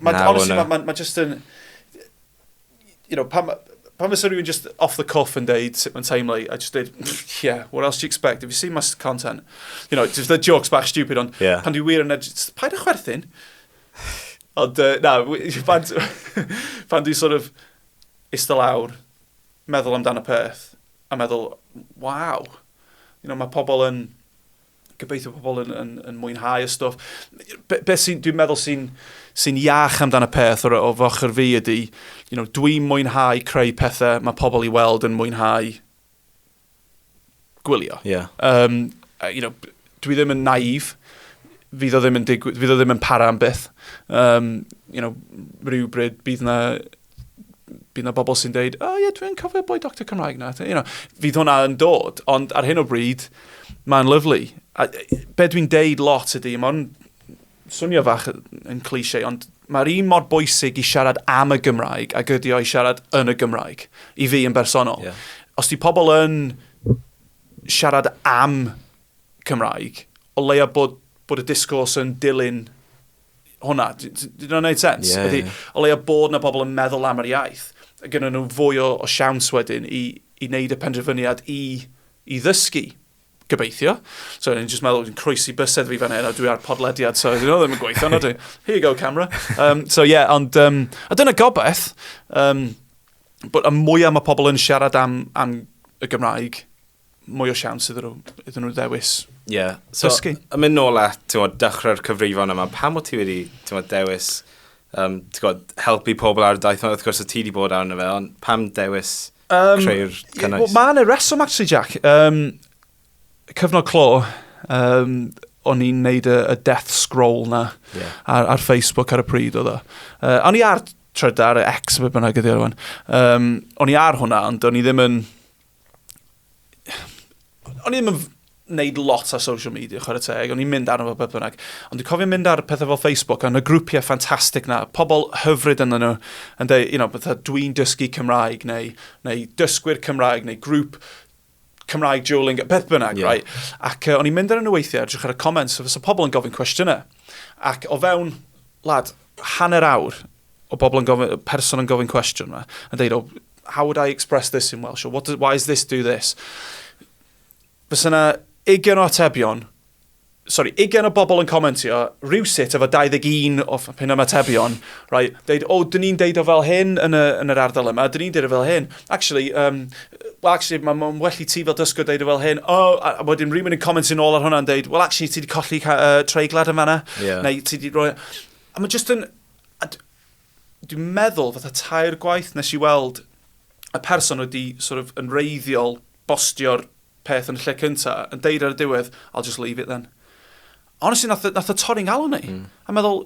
Mae, honestly, mae ma, ma just yn... You know, pam, pam fysa rhywun just off the cuff yn deud sut mae'n teimlo i, a just deud, yeah, what else do you expect? Have you seen my content? You know, just the jokes bach stupid, ond yeah. pan dwi wir yn edrych, paid â chwerthin. Ond, uh, na, pan, pan dwi sort of istedd lawr, meddwl amdano peth, a meddwl, waw, you know, mae pobl yn gobeithio pobl yn, yn, yn mwynhau y stwff. Be, be sy'n, dwi'n meddwl sy'n sy iach amdano peth o'r, o'r foch yr fi ydy, you know, dwi'n mwynhau creu pethau mae pobl i weld yn mwynhau gwylio. Yeah. Um, you know, dwi ddim yn naif, fydd o ddim yn digwydd, fydd o ddim yn para am byth. Um, you know, rhywbryd bydd na bydd yna bobl sy'n dweud, o oh, ie, yeah, dwi'n cofio boi doctor Cymraeg na. You know, fydd hwnna yn dod, ond ar hyn o bryd, mae'n lyflu. A, be dwi'n deud lot ydy, mae'n swnio fach yn cliché, ond mae'r un mor bwysig i siarad am y Gymraeg a gydio i siarad yn y Gymraeg, i fi yn bersonol. Yeah. Os di pobl yn siarad am Cymraeg, o leia bod, bod y disgwrs yn dilyn hwnna. Dyn nhw'n gwneud sens? Yeah, Ydy, yeah. O leia bod na pobl yn meddwl am yr iaith, gyda nhw fwy o, o siawns wedyn i, i wneud y penderfyniad i, i ddysgu gobeithio. So, ni'n just meddwl, ni'n croesi bysedd fi fan hyn, a dwi ar podlediad, so, you know, ddim yn gweithio, na dwi. Here you go, camera. Um, so, yeah, ond, um, a dyna gobaith, um, bod y mwyaf mae pobl yn siarad am, am y Gymraeg, mwy o siawns iddyn nhw, iddyn nhw ddewis yeah. so, dysgu. Yn mynd nôl at tywod, dechrau'r cyfrifon yma, pam o ti wedi tywod, dewis um, tywod, helpu pobl ar y daith yma? Wrth gwrs o ti wedi bod arno fe, ond pam dewis um, creu'r cynnwys? Well, Mae'n y reswm, actually, Jack. Um, cyfnod clo, um, o'n i'n neud y, y death scroll na yeah. ar, ar Facebook ar y pryd oedd o. Uh, o'n i ar trydar, X, fe bynnag ydi ar hwn. Um, o'n i ar hwnna, ond o'n i ddim yn o'n i'n mynd wneud lot ar social media, chwarae teg, o'n i'n mynd arno fo beth bynnag. Ond dwi'n cofio mynd ar pethau fel Facebook, a y grwpiau ffantastig na, pobl hyfryd yn nhw, yn dweud, you know, bethau dwi'n dysgu Cymraeg, neu, neu dysgwyr Cymraeg, neu grŵp Cymraeg dueling, beth bynnag, yeah. right? Ac uh, o'n i'n mynd ar y weithiau, edrych ar y comments, so pobl yn gofyn cwestiynau. Ac o fewn, lad, hanner awr, o bobl yn gofyn, person yn gofyn cwestiwn yma, yn dweud, oh, how would I express this in Welsh, or what does, why does this do this? Fes yna ugen o atebion, sorry, ugen o bobl yn comentio, rhywsut efo 21 o pen am atebion, right, deud, oh, dyn ni'n deud o fel hyn yn, y, yn yr ardal yma, dyn ni'n deud o fel hyn. Actually, um, well, actually, mae'n ma well i ti fel dysgwr deud o fel hyn, oh, a, a wedyn rhywun yn comentio'n ôl ar hwnna'n deud, well, actually, ti wedi colli uh, treiglad yn fanna, yeah. neu ti wedi rhoi... A mae jyst yn A d- dwi'n meddwl, fatha tair gwaith nes i weld y person wedi sort of, yn reiddiol bostio'r peth yn y lle cynta, yn deir ar y diwedd, I'll just leave it then. Honestly, nath, nath y torri'n galon i. Mm. A meddwl,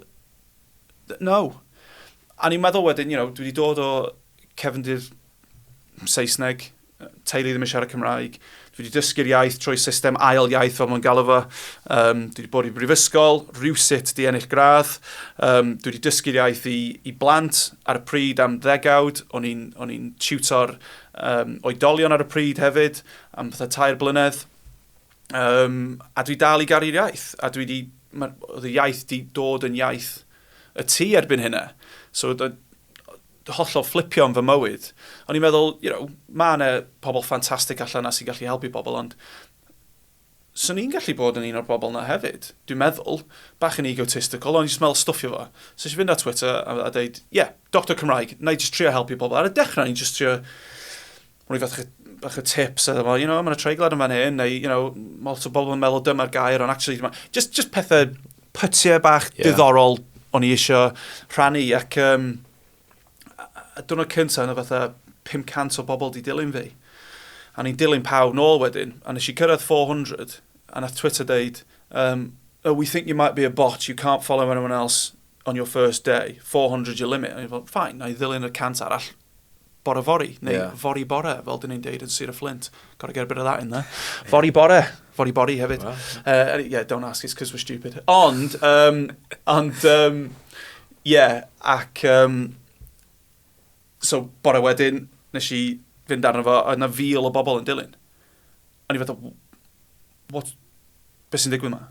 no. A ni'n meddwl wedyn, you know, dwi wedi dod o cefndir Saesneg, teulu ddim yn siarad Cymraeg. Dwi wedi dysgu'r iaith trwy system ail iaith fel maen galw fo. Um, dwi wedi bod i brifysgol, rhywsut di ennill gradd. Um, dwi wedi dysgu'r iaith i, i blant ar y pryd am ddegawd. O'n i'n tiwtor um, oedolion ar y pryd hefyd am fatha tair blynedd. Um, a dwi dal i garu'r iaith. A dwi wedi, oedd y iaith di dod yn iaith y tu erbyn hynna. So, hollol fflipio yn fy mywyd. O'n i'n meddwl, you know, mae yna pobl ffantastig allan yna sy'n gallu helpu pobl, ond swn i'n gallu bod yn un o'r bobl yna hefyd. Dwi'n meddwl, bach yn egotistical, ond i'n meddwl stwffio fo. So eisiau fynd ar Twitter a, a dweud, ie, yeah, doctor Cymraeg, na i just trio helpu pobl. Ar y dechrau, ni'n just trio rhoi fath bach o tips, a you know, mae'n y treiglad yn fan hyn, neu, you know, lot o bobl yn meddwl dyma'r gair, ond actually, just, just pethau pytiau bach yeah. diddorol o'n i eisiau rhannu, ac um, a diwrnod cyntaf yna fatha 500 o bobl di dilyn fi. A ni'n dilyn pawb nôl wedyn, a nes i cyrraedd 400, a nath Twitter deud, um, oh, we think you might be a bot, you can't follow anyone else on your first day, 400 your limit. A ni'n fel, fine, na i ddilyn y cant arall, bore fori, neu yeah. fori bore, fel dyn ni'n deud yn Sir y Fflint. Gotta get a bit of that in there. Yeah. Fori bore, fori bori hefyd. Wow. Uh, yeah, don't ask, it's because we're stupid. Ond, um, ond, um, yeah, ac, um, so, bore wedyn, nes i fynd arno fo, oedd yna fil o bobl yn dilyn. o'n i fatha, what, beth sy'n digwydd yma?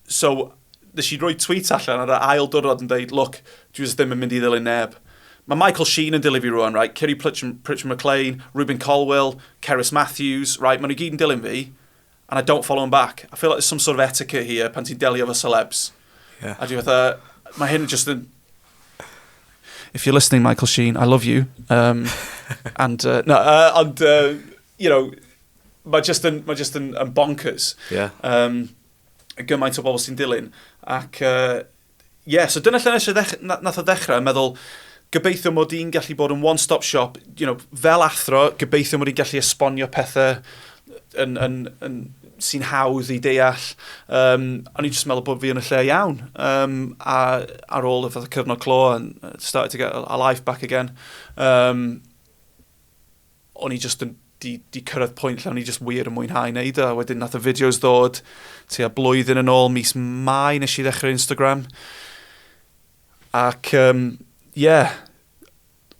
So, nes i roi tweet allan ar y ail dwrnod yn dweud, look, dwi jyst ddim yn mynd i ddilyn neb. Mae Michael Sheen yn dilyn fi rwan, right? Kiri Pritchard-McLean, Ruben Colwell, Cerys Matthews, right? Mae nhw gyd yn dilyn fi, and I don't follow them back. I feel like there's some sort of etiquette here pan ti'n delio fo celebs. Yeah. A dwi fatha, mae hyn just yn... If you're listening, Michael Sheen, I love you. Um, and, uh, no, uh, ond... Uh, you know, mae just yn, mae just yn, yn bonkers. Yeah. Um, gymaint o bobl sy'n dilyn. Ac, uh, yeah, so dyna lle nes nath o ddechrau, meddwl, gobeithio mod i'n gallu bod yn one-stop shop, you know, fel athro, gobeithio mod i'n gallu esbonio pethau yn, yn, yn, sy'n hawdd i deall. Um, o'n i'n just meddwl bod fi yn y lle iawn. Um, a, ar ôl y fath cyfnod clo, and started to get a life back again. Um, o'n i jyst yn, di, di cyrraedd pwynt lle o'n i jyst wir yn mwynhau wneud o. Wedyn nath y fideos ddod, ti a blwyddyn yn ôl, mis mai nes i ddechrau Instagram. Ac, ie, um, yeah,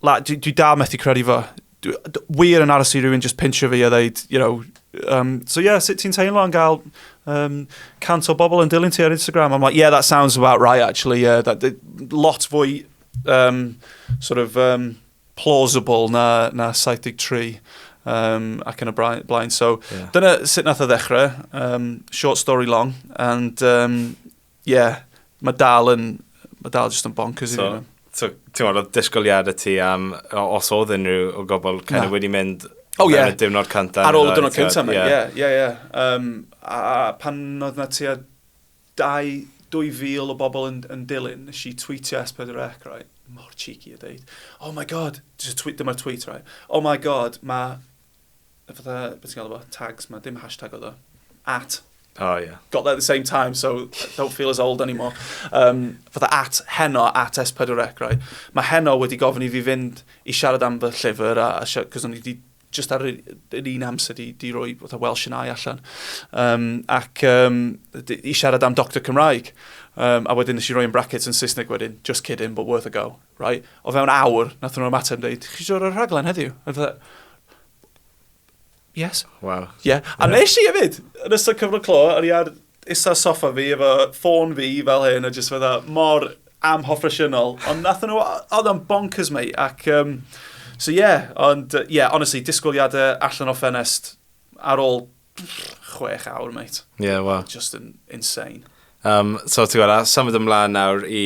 la, dwi, dwi da methu credu fo. Dwi, dwi, wir yn aros i rhywun just pincho fi a ddeud, you know, um, so yeah, sut ti'n teimlo yn gael um, cant o bobl yn dilyn ti ar Instagram? I'm like, yeah, that sounds about right, actually. Yeah, that, that, lot fwy um, sort of um, plausible na, na 73 um, ac yn y blaen. So, yeah. dyna sut nath o ddechrau, um, short story long, and um, yeah, mae dal yn, mae dal jyst yn bonkers so, i fi. So, ti'n meddwl, oedd disgwyliad y ti am, os oedd unrhyw o gobl kind of wedi mynd oh, yeah. ar y diwrnod cyntaf. Ar ôl y diwrnod cyntaf, ie, ie, ie. A pan oedd na ti a Dau, dwy fil o bobl yn, yn dilyn, nes i tweetio S4C, right? Mor cheeky o deud, oh my god, just tweet, dyma'r tweet, right? Oh my god, mae, fatha, beth ti'n gael efo, tags, mae dim hashtag oedd o, at. Oh, yeah. Got there at the same time, so don't feel as old anymore. Um, fatha at heno, at S4C, right? Mae heno wedi gofyn i fi fynd i siarad am fy llyfr, a, a cos o'n i wedi jyst ar yr un amser di, di roi fatha Welsh yn ai allan. Um, ac um, di, i siarad am Doctor Cymraeg. Um, a wedyn nes i roi yn brackets yn Saesneg wedyn, just kidding, but worth a go. Right? O fewn awr, nath nhw'n ymateb yn dweud, chi siwr o'r rhaglen heddiw? A fatha, yes. Wow. Yeah. A yeah. nes i hefyd, yn ystod cyfnod clo, o'n i ar Is ar soffa fi efo ffôn fi fel hyn a jyst fydda mor am hoffresiynol. Ond nath nhw, oedd o'n bonkers mei. Ac, um, so ie, yeah, ond, ie, yeah, honestly, disgwyliadau allan o ffenest ar ôl chwech awr, mate. Ie, yeah, wel. Just in, insane. Um, so, ti'n gwybod, a symud ymlaen nawr i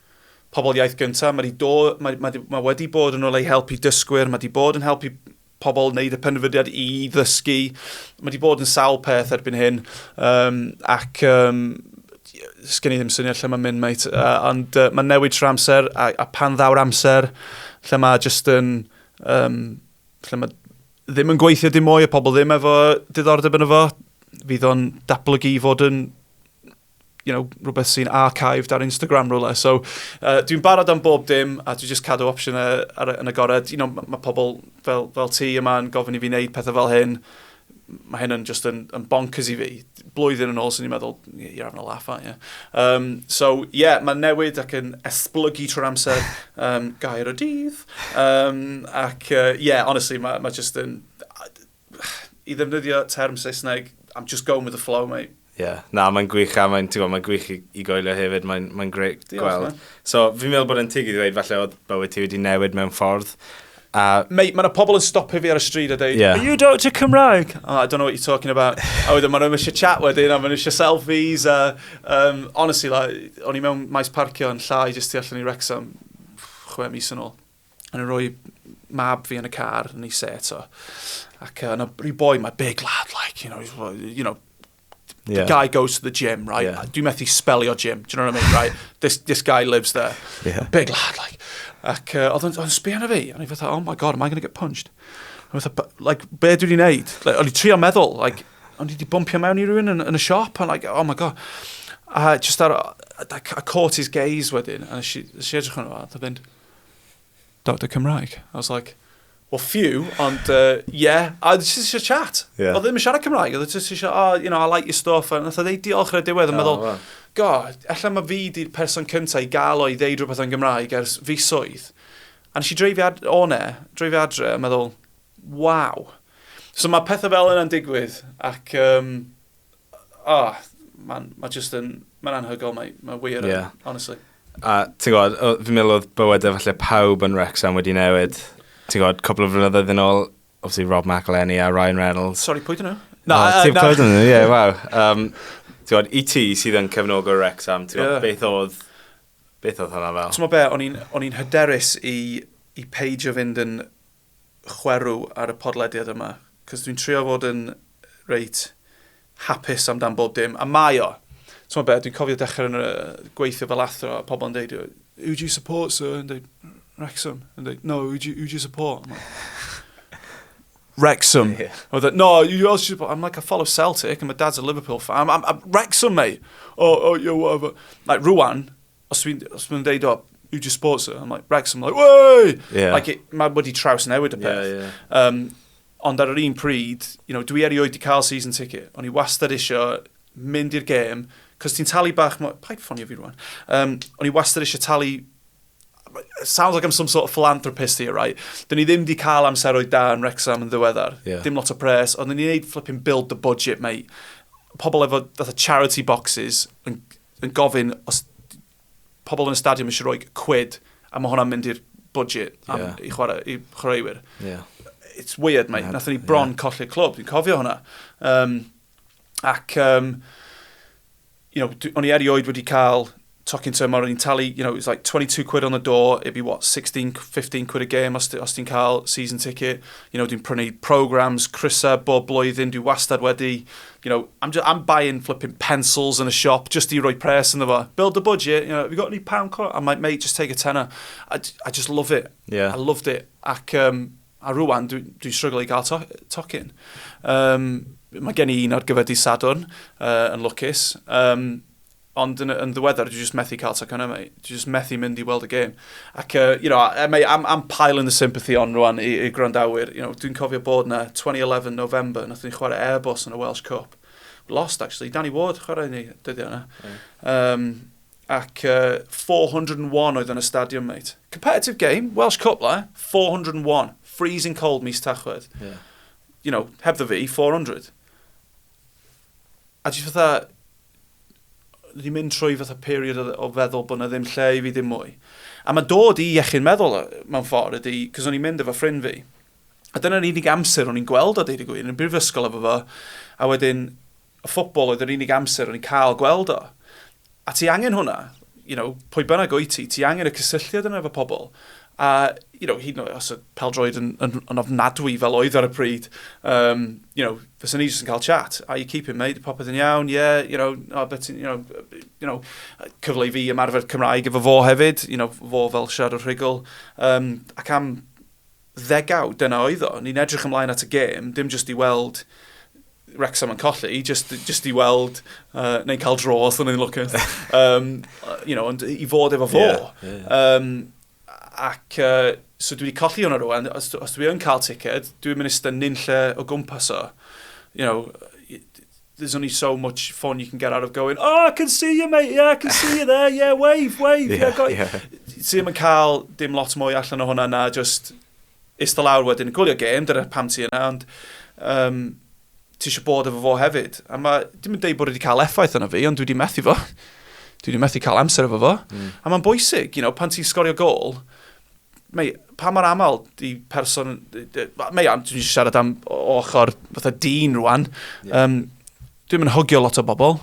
pobl iaith gyntaf, mae, do, mae, mae, mae wedi bod yn ôl ei help i dysgwyr, mae wedi bod yn helpu pobl wneud y penfydiad i ddysgu, mae wedi bod yn sawl peth erbyn hyn, um, ac um, sgen i ddim syniad lle mae'n mynd, mate. Uh, ond uh, mae'n newid trwy amser, a, a pan ddaw'r amser, lle mae just yn... Um, lle mae ddim yn gweithio dim mwy, y pobl ddim efo diddordeb yn efo, fydd o'n datblygu i fod yn you know, rhywbeth sy'n archived ar Instagram rhywle. So, uh, dwi'n barod am bob dim a dwi'n just cadw opsiynau ar, yn agored. You know, mae ma pobl fel, fel ti yma yn gofyn i fi wneud pethau fel hyn. Mae hyn yn just yn, yn bonkers i fi. Blwyddyn yn ôl, sy'n ni'n meddwl, you're having a laugh, aren't you? Um, so, yeah, mae'n newid ac yn esblygu trwy'r amser um, gair y dydd. Um, ac, uh, yeah, honestly, mae ma just yn I ddefnyddio term Saesneg, I'm just going with the flow, mate. Ie, yeah. na, mae'n gwych a mae'n mae gwych i, i goelio hefyd, mae'n mae greit Diolch, gweld. Man. So, fi'n meddwl bod yn tig i ddweud, falle oedd bywyd ti wedi newid mewn ffordd. A... Mate, mae yna pobl yn stopio fi ar y stryd a dweud, yeah. Are you Dr Cymraeg? Oh, I don't know what you're talking about. a wedyn maen nhw'n eisiau chat wedyn, a maen nhw'n eisiau selfies. A, um, honestly, like, o'n i mewn maes parcio yn llai jyst tu allan i Wrexham chwe mis yn ôl. O'n i'n rhoi mab fi yn y car, yn ei se eto. Ac uh, yna rhyw boi, mae big lad, like, you know, you know, yeah. the guy goes to the gym, right? Yeah. Dwi'n methu spelio gym, do you know what I mean, right? This, this guy lives there. Yeah. Big lad, like. Ac uh, oedd yn sbio na fi, a ni fatha, oh my god, am I going to get punched? A fatha, like, be dwi wedi wneud? Like, o'n i trio meddwl, like, o'n i wedi bumpio mewn i rhywun yn, yn y siop, and like, oh my god. A just ar, I caught his gaze wedyn, a nes i edrych yn yma, a fynd, Doctor Cymraeg. I was like, well, few, ond uh, yeah, a jyst eisiau chat. Yeah. Oedd ddim yn siarad Cymraeg, oedd jyst eisiau, oh, you know, I like your stuff, a nath o ddeud diolch ar y diwedd, yn meddwl, oh, go, ella mae fi di'r person cyntaf i gael o'i ddeud rhywbeth yn Gymraeg ers fi swydd. A nes i dreifio ad o ne, dreifio adre, yn meddwl, waw. So mae pethau fel yna'n digwydd, ac um, Oh, man, mae just yn, mae'n anhygol, mae, mae wir yn, honestly. A ti'n gwybod, fi'n meddwl oedd bywyd efallai pawb yn Wrexham wedi newid. Ti'n gwybod, cwpl o flynyddoedd yn ôl, obviously Rob McElhenney a Ryan Reynolds. Sorry, pwy dyn nhw? Na, no, ti'n clywed yn nhw, ie, waw. Um, ti'n gwybod, i ti sydd yn cefnog o'r Wrexham, ti'n gwybod, yeah. beth oedd, beth oedd hwnna fel? Ti'n gwybod be, o'n i'n hyderus i, i peidio fynd yn chwerw ar y podlediad yma, cos dwi'n trio fod yn reit hapus amdan bob dim, a mae o. T'mo' be', dwi'n cofio dechrau yn gweithio fel athro, a pobl yn deud, who do you support, sir? Yn deud, Wrexham. Yn deud, no, who do you, who do you support? Wrexham. Yeah. I was like, no, you else should. I'm like, I follow Celtic, and my dad's a Liverpool fan. I'm, I'm, I'm Wrexham, mate. Oh, oh, yeah, whatever. Like, rwan, os dwi'n dwi dweud, o, who do you support, sir? I'm like, Wrexham, like, way! Yeah. Like, it, mae wedi traws newid y peth. Yeah, yeah. Um, ond ar yr un pryd, you know, dwi erioed wedi cael season ticket. O'n i wastad eisiau mynd i'r gêm, cos ti'n talu bach... Paid ffonio fi rwan. Um, o'n i wastad eisiau talu sounds like I'm some sort of philanthropist here, right? Dyn ni ddim di cael amseroedd da yn Rexham yn ddiweddar. Yeah. Dim lot o pres, ond dyn ni'n neud flipping build the budget, mate. Pobl efo fatha charity boxes yn yn gofyn os pobl yn y stadiwm eisiau rhoi cwyd, a mae hwnna'n mynd i'r budget am, yeah. i, chwarae, i chwaraewyr. Yeah. It's weird, mate. Nathon ni bron yeah. colli'r clwb, dwi'n cofio hwnna. Um, ac, um, you know, o'n i erioed wedi cael tocyn tymor, o'n i'n talu, you know, it was like 22 quid on the door, it'd be what, 16, 15 quid a game os, os ti'n cael season ticket. You know, dwi'n prynu programs, crysau bob blwyddyn, dwi wastad wedi you know, I'm just, I'm buying flipping pencils in a shop just i roi pres yn fo. Build the budget, you know, have you got any pound coin? I'm like, mate, just take a tenner. I, I just love it. Yeah. I loved it. Ac, um, a rwan, dwi'n dwi struggle i gael to tocyn. Um, mae gen i un ar gyfer di Sadwrn uh, yn lwcus. Um, Ond yn, yn ddiweddar, dwi just methu cael tacon yma. Dwi just methu mynd i weld y gêm. Ac, uh, you know, e, mae am, am pile in the sympathy on rwan i, i gwrandawyr. You know, dwi'n cofio bod na 2011 November, nath ni chwarae Airbus yn y Welsh Cup. We lost, actually. Danny Ward chwarae ni dyddiau yna. Mm. Um, ac uh, 401 oedd yn y stadiwm, mate. Competitive game, Welsh Cup la, 401, freezing cold mis tachwedd. Yeah. You know, heb the fi, 400. A jyst fatha, dwi wedi mynd trwy fatha period o, o feddwl bod yna ddim lle i fi ddim mwy. A mae dod i iechyd meddwl mewn ffordd ydy, cos o'n i'n mynd efo ffrind fi. A dyna'r unig amser o'n i'n gweld o dweud y gwir, yn y brifysgol efo fo, a wedyn y ffobl oedd yr unig amser o'n i'n cael gweld o. A ti angen hwnna, you know, pwy bynnag o'i ti, ti angen y cysylltiad yna efo pobl. A, you know, hyd yn oed os oedd peldroed yn, yn, yn ofnadwy fel oedd ar y pryd, um, you know, fysyn ni jyst yn cael chat. Are you keeping, mate? Popeth yn iawn? Yeah, you know, oh, but, you know, you know, cyfle i fi ymarfer Cymraeg efo fo hefyd, you know, fo fel siarad o'r rhugl. Um, ac am ddegawd, dyna oedd o. Ni'n edrych ymlaen at y gêm, dim jyst i weld Wrexham yn colli, just, just i weld, uh, neu cael dro os ydyn ni'n lwcus. um, you know, ond i fod efo fo. Yeah, yeah. Um, ac uh, so dwi wedi colli hwnna rwan, os, os dwi yn cael ticket, dwi'n mynd ystod nyn lle o gwmpas o. You know, there's only so much fun you can get out of going, oh, I can see you, mate, yeah, I can see you there, yeah, wave, wave, yeah, yeah, got yeah. Ti'n mynd cael dim lot mwy allan o hwnna na just Ista lawr wedyn yn gwylio gêm, dyna pam ti yna, ond um, ti eisiau bod efo fo hefyd. A mae, dim yn deud bod wedi cael effaith yna fi, ond dwi wedi methu fo. dwi wedi methu cael amser efo fo. Mm. A mae'n bwysig, you know, pan ti'n sgorio gol, mae, pa mor aml di person... Mae am, dwi'n siarad am ochr fatha dyn rwan. Yeah. Um, dwi'n mynd hogio lot o bobl.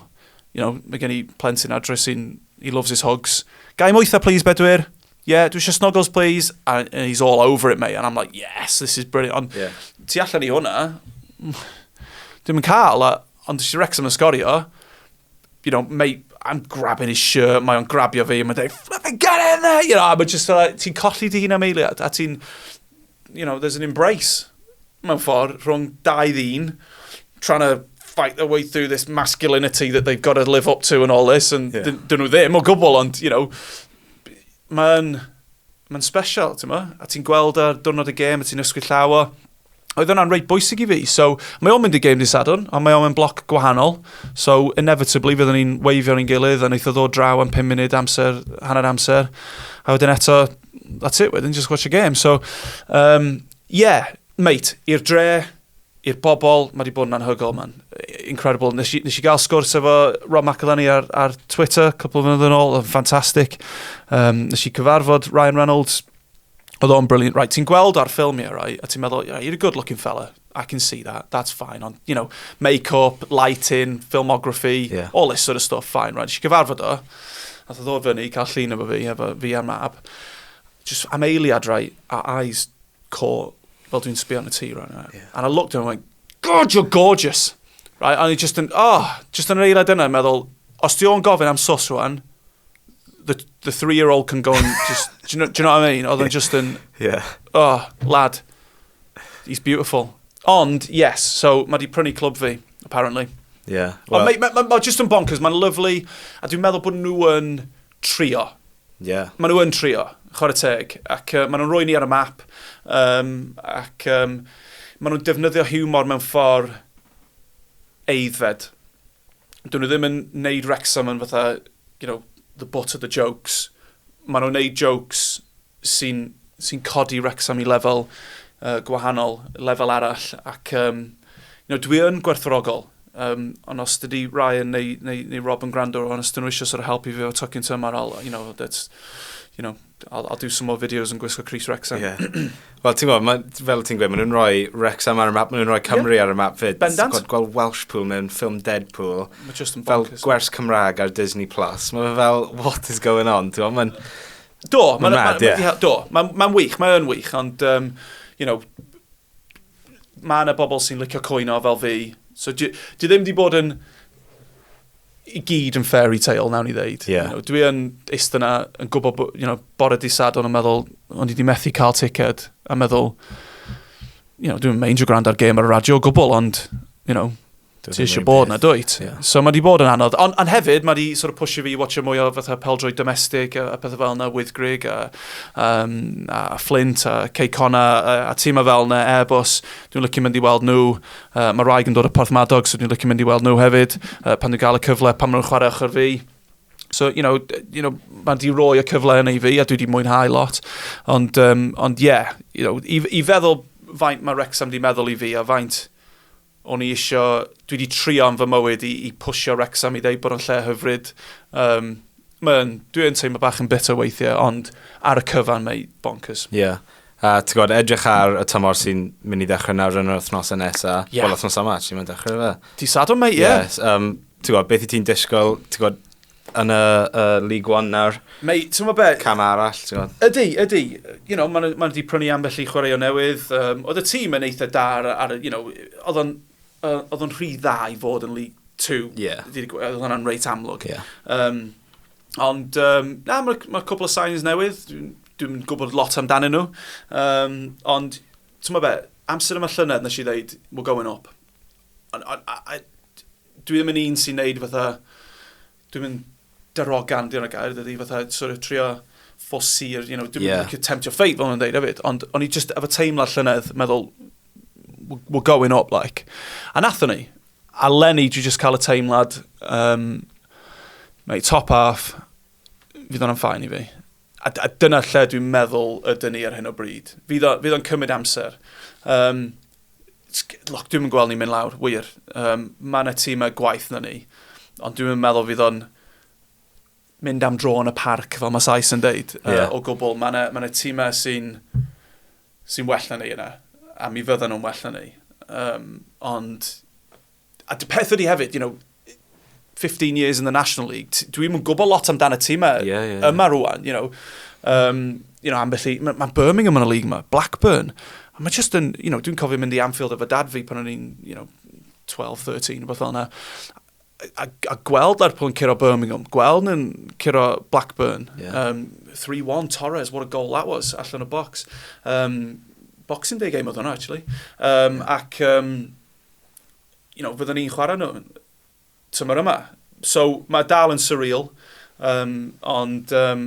You know, mae gen i plentyn adre sy'n... He loves his hogs. Gai moetha, please, bedwyr? yeah, dwi eisiau snuggles, please. And he's all over it, mate. And I'm like, yes, this is brilliant. Ond yeah. ti allan i hwnna, dim yn cael, ond si Wrexham yn sgorio, you know, mate, I'm grabbing his shirt, mae o'n grabio fi, mae'n dweud, flipping get in there, you know, a mae just like, ti'n colli dy hun am eiliad, a ti'n, you know, there's an embrace mewn ffordd rhwng dau ddyn trying to fight their way through this masculinity that they've got to live up to and all this and yeah. dyn nhw ddim o gwbl ond you know mae'n ma special ti'n ma a ti'n gweld ar dwrnod y gêm a ti'n ysgwyd llaw o oedd hwnna'n reit bwysig i fi. So, mae o'n mynd i gêm di Sadwn, ond mae o'n mynd bloc gwahanol. So, inevitably, fyddwn ni'n weifio ni'n gilydd, a wnaeth o ddod draw am 5 munud amser, hanner amser. A wedyn eto, that's it wedyn, just watch a game. So, um, yeah, mate, i'r dre, i'r bobl, mae wedi bod yn anhygol, man. Incredible. Nes i, nes i gael sgwrs efo Rob McElhenney ar, ar Twitter, cwpl o fynydd yn ôl, oedd ffantastig. Um, nes i cyfarfod Ryan Reynolds, oedd o'n brilliant. Right, ti'n gweld ar ffilmiau, right, a ti'n meddwl, yeah, you're a good-looking fella. I can see that, that's fine, ond, you know, make-up, lighting, filmography, yeah. all this sort of stuff, fine, right, eisiau gyfarfod o, a dda ddod fyny, cael llun efo fi, efo fi a mab, just am eiliad, right, our eyes caught, fel dwi'n sbio yn y tŷ, right, right. Yeah. and I looked at him and went, God, you're gorgeous, right, and just yn, oh, just yn yr eiliad yna, meddwl, os di o'n gofyn am sos rwan, the, the three-year-old can go and just, do you, know, do you know what I mean? Oedd yn just yn, yeah. oh, lad, He's beautiful. Ond, yes, so mae di prynu clwb fi, apparently. Ie. Yeah, well. Mae ma, ma, ma just yn bonkers, mae'n lyflu, a dwi'n meddwl bod nhw yn trio. Ie. Yeah. Mae nhw yn trio, chwarae teg, ac uh, maen nhw'n rhoi ni ar y map, um, ac um, maen nhw'n defnyddio humor mewn ffordd eiddfed. Dyn nhw ddim yn neud Wrexham yn fatha, you know, the butt of the jokes. Maen nhw'n neud jokes sy'n sy'n codi Wrexham i lefel uh, gwahanol, lefel arall, ac um, you know, dwi yn gwerthfawrogol, um, ond os dydy Ryan neu, neu, neu Rob yn gwrando, ond os dyn nhw eisiau sort of helpu fi o tocyn tymor, I'll, you know, that's, you know, I'll, I'll do some more videos yn gwisgo Chris Wrexham. Yeah. Wel, ti'n gwybod, fel ti'n gweud, maen nhw'n rhoi Wrexham ar y map, maen nhw'n rhoi Cymru yeah. ar y map fyd. Bendant. Gweld, gweld Welshpool mewn ffilm Deadpool. Mae just yn bonkers. Fel gwers Cymraeg ar Disney Plus. Mae fe fel, what is going on? Ti'n gwybod, Do, mae'n ma, ma, yeah. do, mae'n ma wych, mae'n wych, ond, um, you know, mae yna bobl sy'n licio coino fel fi. So, di, di ddim di bod yn i gyd yn fairy tale, nawn ni ddeud. Yeah. You know, dwi yn eist yna yn gwybod, you know, bore di sadon yn meddwl, ond i di methu cael ticket, a meddwl, you know, dwi'n meindio gwrando ar gêm ar y radio o gwbl, ond, you know, Ti eisiau bod na, dwyt? Yeah. So mae di bod yn anodd. Ond on hefyd, mae di sort of pusio fi i watcha mwy o fatha peldroi domestic a, a pethau fel yna, Wyddgrig a, um, a Flint a Ceicona a, a tîm a fel yna, Airbus. Dwi'n lycio mynd i weld nhw. Uh, mae Raig yn dod o Porth Madog, so dwi'n lycio mynd i weld nhw hefyd. Uh, pan dwi'n gael y cyfle, pan maen nhw'n chwarae ochr fi. So, you know, you know mae di roi y cyfle yn ei fi a dwi wedi mwynhau lot. Ond, um, ond yeah, you know, i, i feddwl faint mae Wrexham di meddwl i fi a faint O'n i isio, dwi wedi trio am fy mywyd i, i pwysio Wrexham i ddeud bod o'n lle hyfryd. Um, Mae'n, dwi yn teimlo bach yn bitter weithiau, ond ar y cyfan mae bonkers. Ie. Yeah. A ti'n gwybod, edrych ar y tymor sy'n mynd i ddechrau nawr yn yr wythnosau nesaf. Yeah. Wel, wythnosau yma, ti'n mynd i ddechrau fe. Di sadwn, mate, ie. Yeah. Yes, um, ti'n gwybod, beth i ti'n disgwyl, ti'n gwybod, yn y uh, League One nawr. Mae, ti'n be? Cam arall, ti'n gwybod. Ydy, ydy. You know, maen ma nhw wedi prynu ambell i chwarae o newydd. Um, oedd y tîm yn eitha da ar, ar you know, oedd o'n uh, oedd o'n rhy dda i fod yn League 2. Yeah. Oedd hwnna'n reit amlwg. Yeah. Um, ond, um, na, mae ma cwbl o signs newydd. Dwi'n dwi gwybod lot amdanyn nhw. Um, ond, ti'n be, amser yma llynedd nes i ddeud, we're going up. And, and, I, dwi ddim yn un sy'n neud fatha, dwi'n mynd darogan, dyna gair, dydy, fatha, sort of trio ffosir, you know, dwi'n yeah. mynd tempt your fate, fel nhw'n dweud hefyd, ond o'n i just efo teimlad llynedd, meddwl, we're going up, like. A nathon ni, a Lenny, dwi just cael y teimlad, um, mate, top half, fydd o'n am ffain i fi. A, a dyna lle dwi'n meddwl ydyn ni ar hyn o bryd. Fydd o'n cymryd amser. Um, look, dwi'n gweld ni'n mynd lawr, wir. Um, mae yna tîm a gwaith na ni. Ond dwi'n meddwl fydd o'n mynd am dro yn y parc, fel mae Sais yn deud, yeah. uh, o gwbl. Mae yna ma tîmau sy'n sy well na ni yna, a mi fyddan nhw'n well na ni. Um, ond a dy peth ydi hefyd, you know, 15 years in the National League, dwi'n mwyn gwybod lot amdan y tîm yeah, yeah, yeah. yma rwan, you know. Um, you know, ambell i, mae ma Birmingham yn y league yma, Blackburn. A mae just yn, you know, dwi'n cofio mynd i Anfield efo dad fi pan o'n i'n, you know, 12, 13, rhywbeth fel yna. A, a gweld Lerpwl yn curo Birmingham, gweld yn curo Blackburn. Yeah. Um, 3-1 Torres, what a goal that was, allan o box. Um, Boxing Day game oedd hwnna, actually. Um, ac, um, you know, fyddwn ni'n chwarae nhw tymor yma. So mae dal yn surreal, um, ond, um,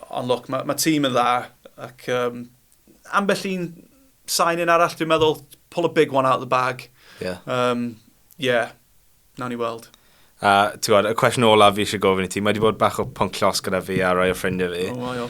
ond look, mae, mae tîm yn dda, ac um, ambell un sain yn arall, dwi'n meddwl, pull a big one out of the bag. Yeah. Um, yeah, na ni weld. A, ti'n gwybod, y cwestiwn olaf fi eisiau gofyn i ti, mae wedi bod bach o pwnc llos gyda fi a rai o ffrindiau fi. Oh,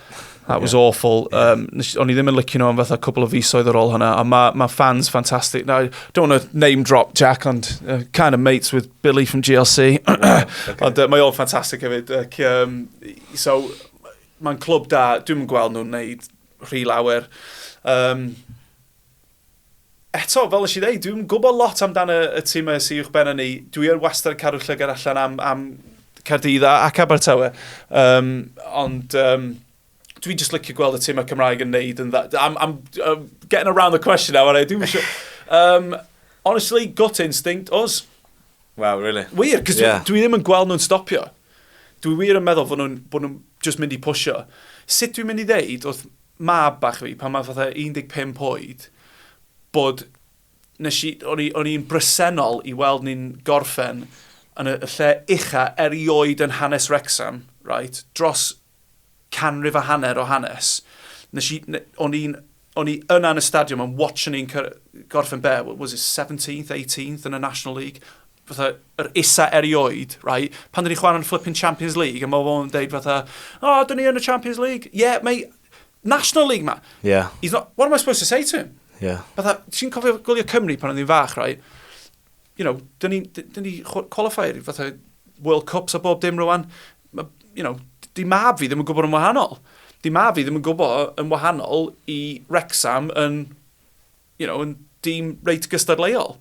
That was yeah. awful. Yeah. Um, o'n i ddim yn licio nhw am fatha cwbl o fisoedd ar ôl hwnna, a mae ma fans ffantastig. Now, I don't want to name drop Jack, ond uh, kind of mates with Billy from GLC. Oh, okay. ond uh, mae o'n ffantastig hefyd. Ac, um, so, mae'n clwb da, dwi'n gweld nhw'n neud rhy lawer. Um, eto, fel nes i ddeud, dwi'm yn gwybod lot amdano y tîm yma sy uwchben hynny. Dwi yn wastad yn cadw llygad allan am, am Caerdydd a- ac Abertawe. Um, ond um, dwi'n just licio gweld y tîm y Cymraeg yn neud yn dda. I'm, I'm, I'm getting around the question now, aren't I? Dwi'n siŵr. Um, honestly, gut instinct, os. Wow, really? Wir, cos Yeah. dwi, dwi ddim yn gweld nhw'n stopio. Dwi wir yn meddwl bod nhw'n bod nhw just mynd i pwysio. Sut dwi'n mynd i ddeud wrth mab bach fi, pan mae fatha 15 oed, bod, nes i, o'n i, o'n i'n bresennol i weld ni'n gorffen yn y lle ucha erioed yn hanes Wrecsam, right, dros canrif a hanner o hanes. Nes i, o'n i'n, o'n i yna yn y stadiwm yn watch ni'n gorffen be, was it 17th, 18th yn y National League? Fatha, yr isa erioed, right? Pan dyn ni'n chwarae'n flipping Champions League, a mae fo'n deud fatha, o, oh, dyn ni yn y Champions League. Ie, yeah, mae National League ma. Yeah. He's not, what am I supposed to say to him? Yeah. Fatha, ti'n cofio gwylio Cymru pan oedd hi'n fach, rai? You know, dyn ni, dyn ni qualifier, fatha World Cups a bob dim rwan. You know, di mab fi ddim yn gwybod yn wahanol. Di mab fi ddim yn gwybod yn wahanol i Rexham yn, you know, yn dîm reit gystadleuol.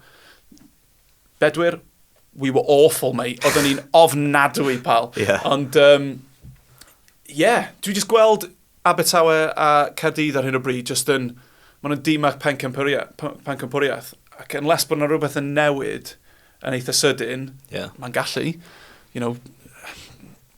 Bedwyr, we were awful, mate. Oedden ni'n ofnadwy, pal. Yeah. Ond, um, yeah, dwi jyst gweld Abertawe a Caerdydd ar hyn o bryd, jyst yn, maen nhw'n dim ac pencampwriaeth. Ac yn les bod yna rhywbeth yn newid yn eitha sydyn, yeah. mae'n gallu, you know,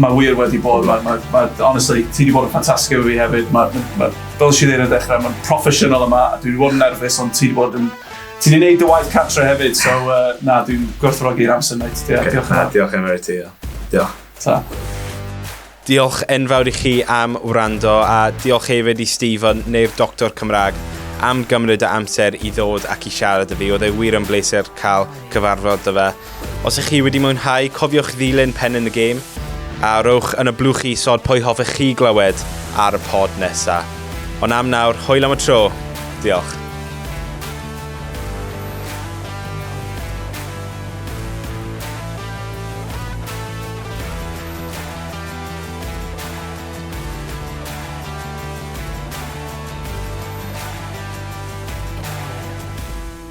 Mae wir wedi bod, mae, mae, mae, honestly, ti wedi bod yn ffantastig efo fi hefyd. Mae, mae, mae, fel si ddeud yn dechrau, mae'n proffesiynol yma, a dwi wedi bod yn nerfus, ond ti wedi bod yn... Ti wedi gwneud dy waith cartre hefyd, so uh, na, dwi'n gwerthfawrogi'r amser, mate. Diolch, okay. diolch, na, diolch yn fawr ti, diolch. Ta. Diolch enfawr i chi am wrando, a diolch hefyd i Stephen neu'r Doctor Cymraeg am gymryd y amser i ddod ac i siarad y fi. Oedd e wir yn bleser cael cyfarfod dy fe. Os ych chi wedi mwynhau, cofiwch ddilyn Pen in the Game, a rhowch yn y blwch isod pwy hoffech chi glywed ar y pod nesa. Ond am nawr, hwyl am y tro. Diolch.